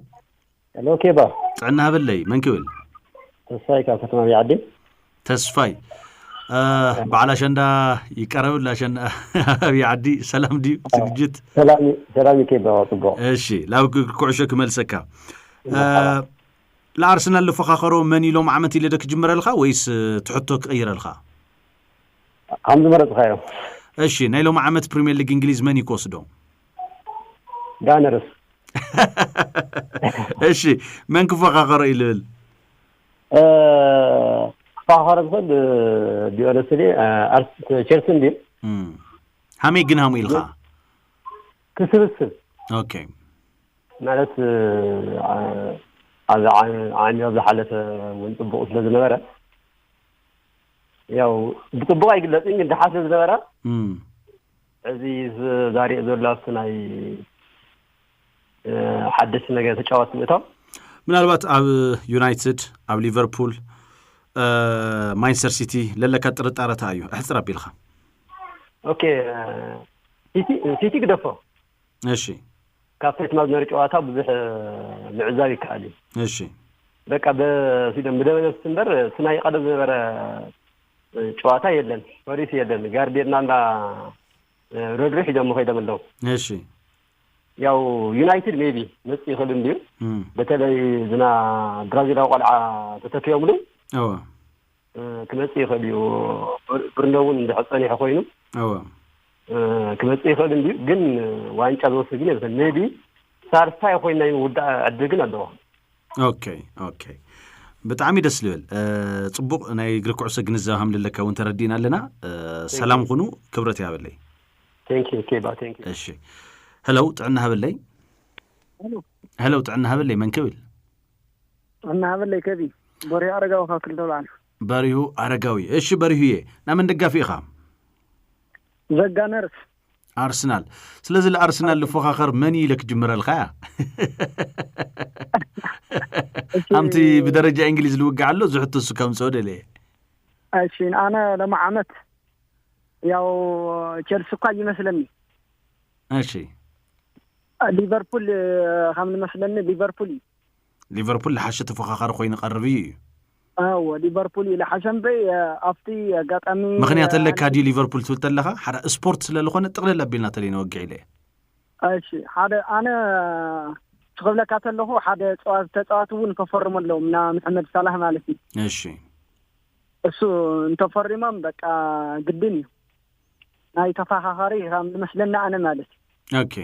ሄሎ ኬባ ጥዕና ሃበለይ መን ክብል ተስፋይ ካብ ከተማ ቢዓዲ ተስፋይ አ፣ በዓል ኣሸንዳ ይቀረብ ኣላ ኣሸንዳ ኣብ ዓዲ ሰላም ድዩ ዝግጅት ሰላም እዩ- ሰላም እዩ ኬባ ፅቡቅ እሺ ላብ ግ- ኩዕሾ ክመልሰካ አ፣ ንኣርሰናል ዝፈኻኸሮ መን ኢሎም ዓመት ኢለ ዶ ክጅምረልካ ወይስ እ፣ ትሕቶ ክቕይረልካ ከም ዝመረፅካዮ እሺ ናይ ሎም ዓመት ፕሪምየር ሊግ እንግሊዝ መን እዩ ክወስዶ ዳነርስ እሺ መን ክፈኻኸሮ እዩ ልብል ክፈኻኸሮ ዝኽእል ዲዮረስ ድ ቸልሲ እንድዩ ሃመይ ግን ሃሙ ኢልካ ክስብስብ ኦኬ ማለት ኣብ ዓሚ ኣብ ዝሓለፈ እውን ፅቡቅ ስለ ዝነበረ ያው ብፅቡቅ ኣይግለፅን ግን ድሓ ስለ ዝነበረ እዚ ዛሪኦ ዘሎ ኣብቲ ናይ ሓደስቲ ነገ ተጫዋቲ ምእታው ምናልባት ኣብ ዩናይትድ ኣብ ሊቨርፑል ማንቸስተር ሲቲ ለለካ ጥርጣረታ እዩ ኣሕፅር ኣቢልካ ኦኬ ሲቲ ግደፎ እሺ ካብ ፌት ማዝነሪ ጨዋታ ብዙሕ ምዕዛብ ይከኣል እዩ እሺ በቃ በሲዶም ብደበነብሲ እምበር እቲ ናይ ቀደም ዝነበረ ጨዋታ የለን ፖሊስ የለን ጋርዴድና እንዳ ረድሩ ሒዞሞ ከይዶም ኣለው። እሺ ያው ዩናይትድ ሜቢ መጽ ይኽእል እንድዩ እም፣ በተለይ ዝና ብራዚላዊ ቆልዓ ተተኪኦምሉ እወ እ፣ ክመጽእ ይኽእል እዩ ብር- ብርኖ እውን እንድሕር ጸኒሑ ኮይኑ እወ እ፣ ክመጽእ ይኽእል እንድዩ ግን ዋንጫ ዝወስድ ግን የብተን ሜቢ ሳልሳይ ኮይና ይውዳእ ዕድል ግን ኣለዎ ኦኬ ኦኬ ብጣዕሚ ደስ ልብል ፅቡቅ ናይ እግሪ ኩዕሶ ግንዛብ ሃምልለካ እውን ተረዲእና ኣለና ሰላም ኩኑ ክብረት ያበለይ እሺ ሄለው ጥዕና ሃበለይ ሄለው ጥዕና ሃበለይ መን ክብል ጥዕና ሃበለይ ከቢ በሪሁ ኣረጋዊ ካብ ክልተ በዓል በሪሁ ኣረጋዊ እሺ በሪሁዬ ናይ መን ደጋፊ ኢኻ ዘጋነርስ ኣርሰናል ስለዚ ንኣርሰናል ልፎኻኸር መን ኢለ ክጅምረልካ እያ ከምቲ ብደረጃ እንግሊዝ ልውግዕ ኣሎ እዚ ሕቶ እሱ ከምፅኦ ደለየ እሺ ኣነ ሎሚ ዓመት ያው ቸልሲ እኳ ይመስለኒ እሺ ሊቨርፑል ከም ንመስለኒ ሊቨርፑል እዩ ሊቨርፑል ልሓሸ ተፎካካሪ ኮይኑ ቀርብ እዩ እዩ። ኣወ ሊቨርፑል እዩ ልሓሸ እምበይ ኣብቲ ኣጋጣሚ ምክንያት ኣለካ ድዩ ሊቨርፑል ትብል ተለካ ሓዳ ስፖርት ስለ ልኮነ ጥቅልል ኣቢልና ተለይ ነወግዕ ኢለ እሺ ሓደ ኣነ ክብለካ ተለኩ ሓደ ተፃዋቲ እውን ከፈርሙ ኣለዎም ና መሐመድ ሳላህ ማለት እዩ እሺ እሱ እንተፈሪሞም በቃ ግድን እዩ ናይ ተፈኻኻሪ ከም ዝመስለና ኣነ ማለት እዩ ኦኬ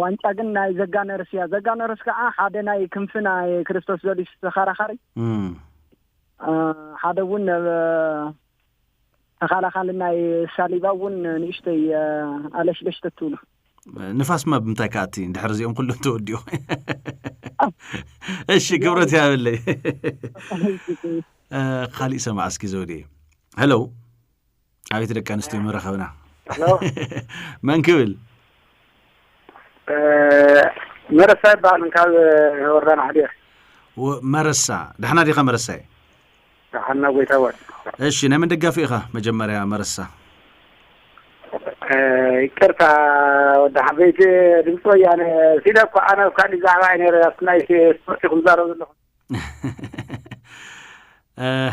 ዋንጫ ግን ናይ ዘጋነርስ እያ ዘጋነርስ ከዓ ሓደ ናይ ክንፊ ናይ ክርስቶስ ዘዲስ ተኸራኻሪ ሓደ እውን ተኸላኻሊ ናይ ሳሊባ እውን ንእሽተይ ኣለሽለሽ ተትብሉ ንፋስማ ብምንታይ ከኣቲ ድሕር እዚኦም ኩሉ ተወዲኡ እሺ ክብረት ያበለይ ካሊእ ሰማዕ እስኪ ዘውዲ ሄሎ ኣቤት ደቂ ኣንስትዮ ምረኸብና መን ክብል መረሳ ይበሃል ካብ ወረዳ ናሕዲር መረሳ ዳሕና ዲኻ መረሳ እዩ ዳሕና ጎይታወት እሺ ናይ መን ደጋፊ ኢኻ መጀመርያ መረሳ ይቅርታ ወዲ ሓበይቲ ድምፂ ወያነ ሲለ እኳ ኣነ ኣብ ካሊእ ዛዕባ እዩ ነረ ኣብቲ ናይ ስፖርቲ ክዛረብ ዘለኹ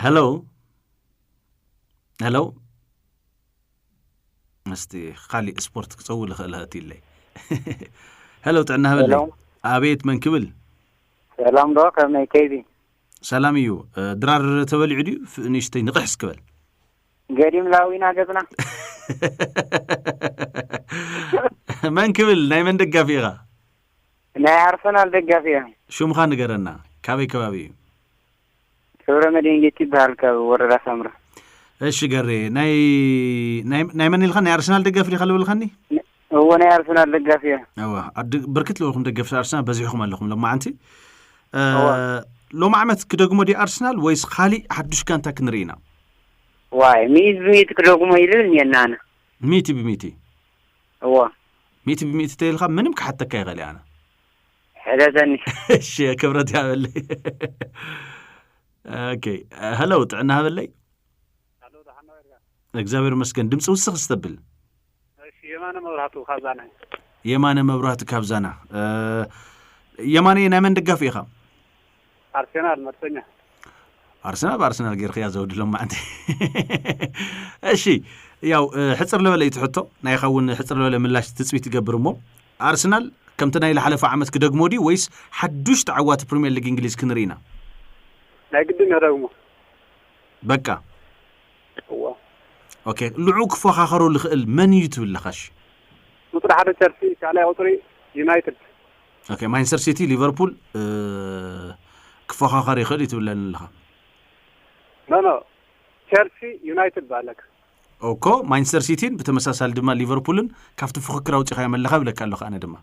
ሄሎ ሄሎ ምስቲ ካሊእ ስፖርት ክፀው ልኽእል ህእትዩለይ ሄሎ ጥዕና ህበለይ ኣቤት መን ክብል ሰላም ዶ ከመይ ከይዲ ሰላም እዩ ድራር ተበሊዑ ድዩ ንእሽተይ ንቕሕስ ክበል ገዲም ላዊና ገፅና መን ክብል ናይ መን ደጋፊ ኢኻ ናይ ኣርሰናል ደጋፊ እያ ሽምኻ ንገረና ካበይ ከባቢ እዩ ገብረመድህን ጌቱ ይበሃል ካብ ወረዳ ሳምረ እሺ ገሬ ናይ መን ኢልካ ናይ ኣርሰናል ደጋፊ ዲኻ ልብልካኒ እዎ ናይ ኣርሰናል ደጋፊ እየ ብርክት ልበልኩም ደገፍቲ ኣርሰናል በዚሕኹም ኣለኹም ሎማዓንቲ ሎሚ ዓመት ክደግሞ ዲ ኣርሰናል ወይስ ካሊእ ሓዱሽ ጋንታ ክንርኢ ኢና ዋይ ሚእት ብሚእት ክደግሞ ይልብል እኒአና ኣነ ሚእቲ ብሚእቲ እዎ ሚእቲ ብሚእቲ ተይልካ ምንም ክሓተካ ይኽእል ኣነ ሕተተኒ እሺ ክብረት ያበለይ ኦኬ ሄሎ ጥዕና ሃበለይ ኣሎ ደሓን ነበርካ እግዚኣብሔር ይመስገን ድምፂ ውስኽ ዝተብል እሺ የማነ መብራህቱ ካብ ዛና የማነ መብራህቲ ካብ ዛና እ፣ የማነ ናይ መን ደጋፊ ኢኻ ኣርሴናል መርሰኛ ኣርሰናል ብኣርሰናል ጌርክያ ዘውዲ ሎማዕንቲ እሺ ያው ሕፅር ለበለ እዩ ትሕቶ ናይኻ እውን ሕፅር ለበለ ምላሽ ትፅቢት ትገብር እሞ ኣርሰናል ከምቲ ናይ ዝሓለፈ ዓመት ክደግሞ ድዩ ወይስ ሓዱሽ ተዓዋቲ ፕሪምየር ሊግ እንግሊዝ ክንርኢ ኢና ናይ ግድን የደግሞ በቃ እዎ ኦኬ ልዑ ክፎኻኸሮ ዝኽእል መን እዩ ትብል ለኻሽ ቁፅሪ ሓደ ቸልሲ ካልኣይ ቁፅሪ ዩናይትድ ኦኬ ማንቸስተር ሲቲ ሊቨርፑል ክፎኻኸር ይኽእል እዩ ትብለኒ ኣለኻ ኖኖ ቸልሲ ዩናይትድ ባለክ እኮ ማንቸስተር ሲቲን ብተመሳሳሊ ድማ ሊቨርፑልን ካብቲ ፍክክር ኣውፂኻዮ መለኻ ይብለካ ኣለካ ኣነ ድማ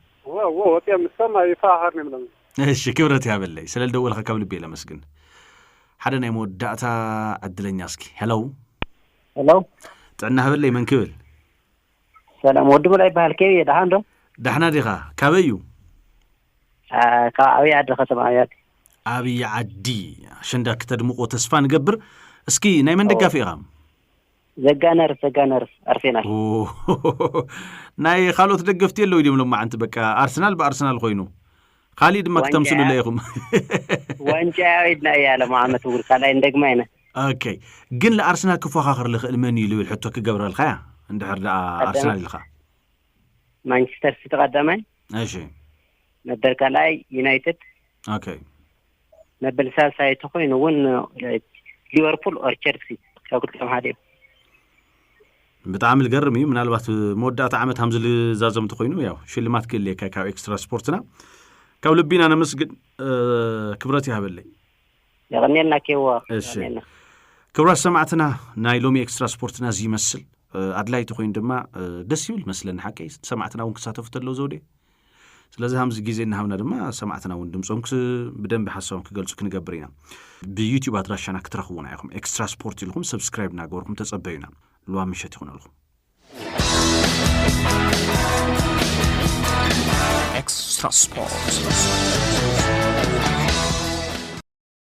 ወፂኦም ንሶም ይፈኻኸር ንብሎም እሺ ክብረት ያበለይ ስለ ልደወልካ ካብ ልቢ ለመስግን ሓደ ናይ መወዳእታ ዕድለኛ እስኪ ሄሎ ሄሎ ጥዕና ሃበለይ መን ክብል ሰላም ወዲ ሙላ ይበሃል ከይ እየ ደሓን ዶ ዳሕና ዲኻ ካበይ እዩ ኣ፣ ካብ ዓብዪ ዓዲ ከተማ ኣብያት ኣብይ ዓዲ ኣሸንዳ ክተድምቆ ተስፋ ንገብር እስኪ ናይ መን ደጋፊ ኢኻ ዘጋ ነርስ ዘጋ ነርስ ኣርሴናል ኦ፣ ናይ ካልኦት ደገፍቲ የለው ድም ሎማዓንቲ በቃ ኣርሰናል ብኣርሰናል ኮይኑ ካሊእ ድማ ክተምስሉለ ኢኹም ዋንጫ ኢድና እያ ሎም ዓመት እውን ካልኣይ እንደግማ ኢና ኦኬ ግን ንኣርሰናል ክፎኻኸር ዝኽእል መን እዩ ዝብል ሕቶ ክገብረልካ እያ እንድሕር ደኣ ኣርሰናል ኢልካ ማንቸስተር ሲቲ ቀዳማይ እሺ መበል ካልኣይ ዩናይትድ ኦኬ መበል ሳልሳይ ተኾይኑ እውን ሊቨርፑል ኦር ቸልሲ ካብ ክልቲኦም ሓደ እዩ ብጣዕሚ ዝገርም እዩ ምናልባት መወዳእታ ዓመት ሃምዚ ዝዛዘም እንተኮይኑ ያው ሽልማት ክህልየካ ካብ ኤክስትራ ስፖርትና ካብ ልቢና ነመስግን ክብረት ይሃበለይ የቀኒልና ኬዋ ክብራት ሰማዕትና ናይ ሎሚ ኤክስትራ ስፖርትና እዚ ይመስል ኣድላይ ተኮይኑ ድማ ደስ ይብል መስለኒ ሓቀይ ሰማዕትና እውን ክሳተፉ ተለው ዘውዴ ስለዚ ሃምዚ ግዜ እናሃብና ድማ ሰማዕትና እውን ድምፆም ብደንቢ ሓሳቦም ክገልፁ ክንገብር ኢና ብዩትዩብ ኣድራሻና ክትረኽቡና ኢኹም ኤክስትራ ስፖርት ኢልኹም ሰብስክራይብ እናገበርኩም ተፀበዩና ልዋ ምሸት ይኹነልኹም ኤክስትራ ስፖርት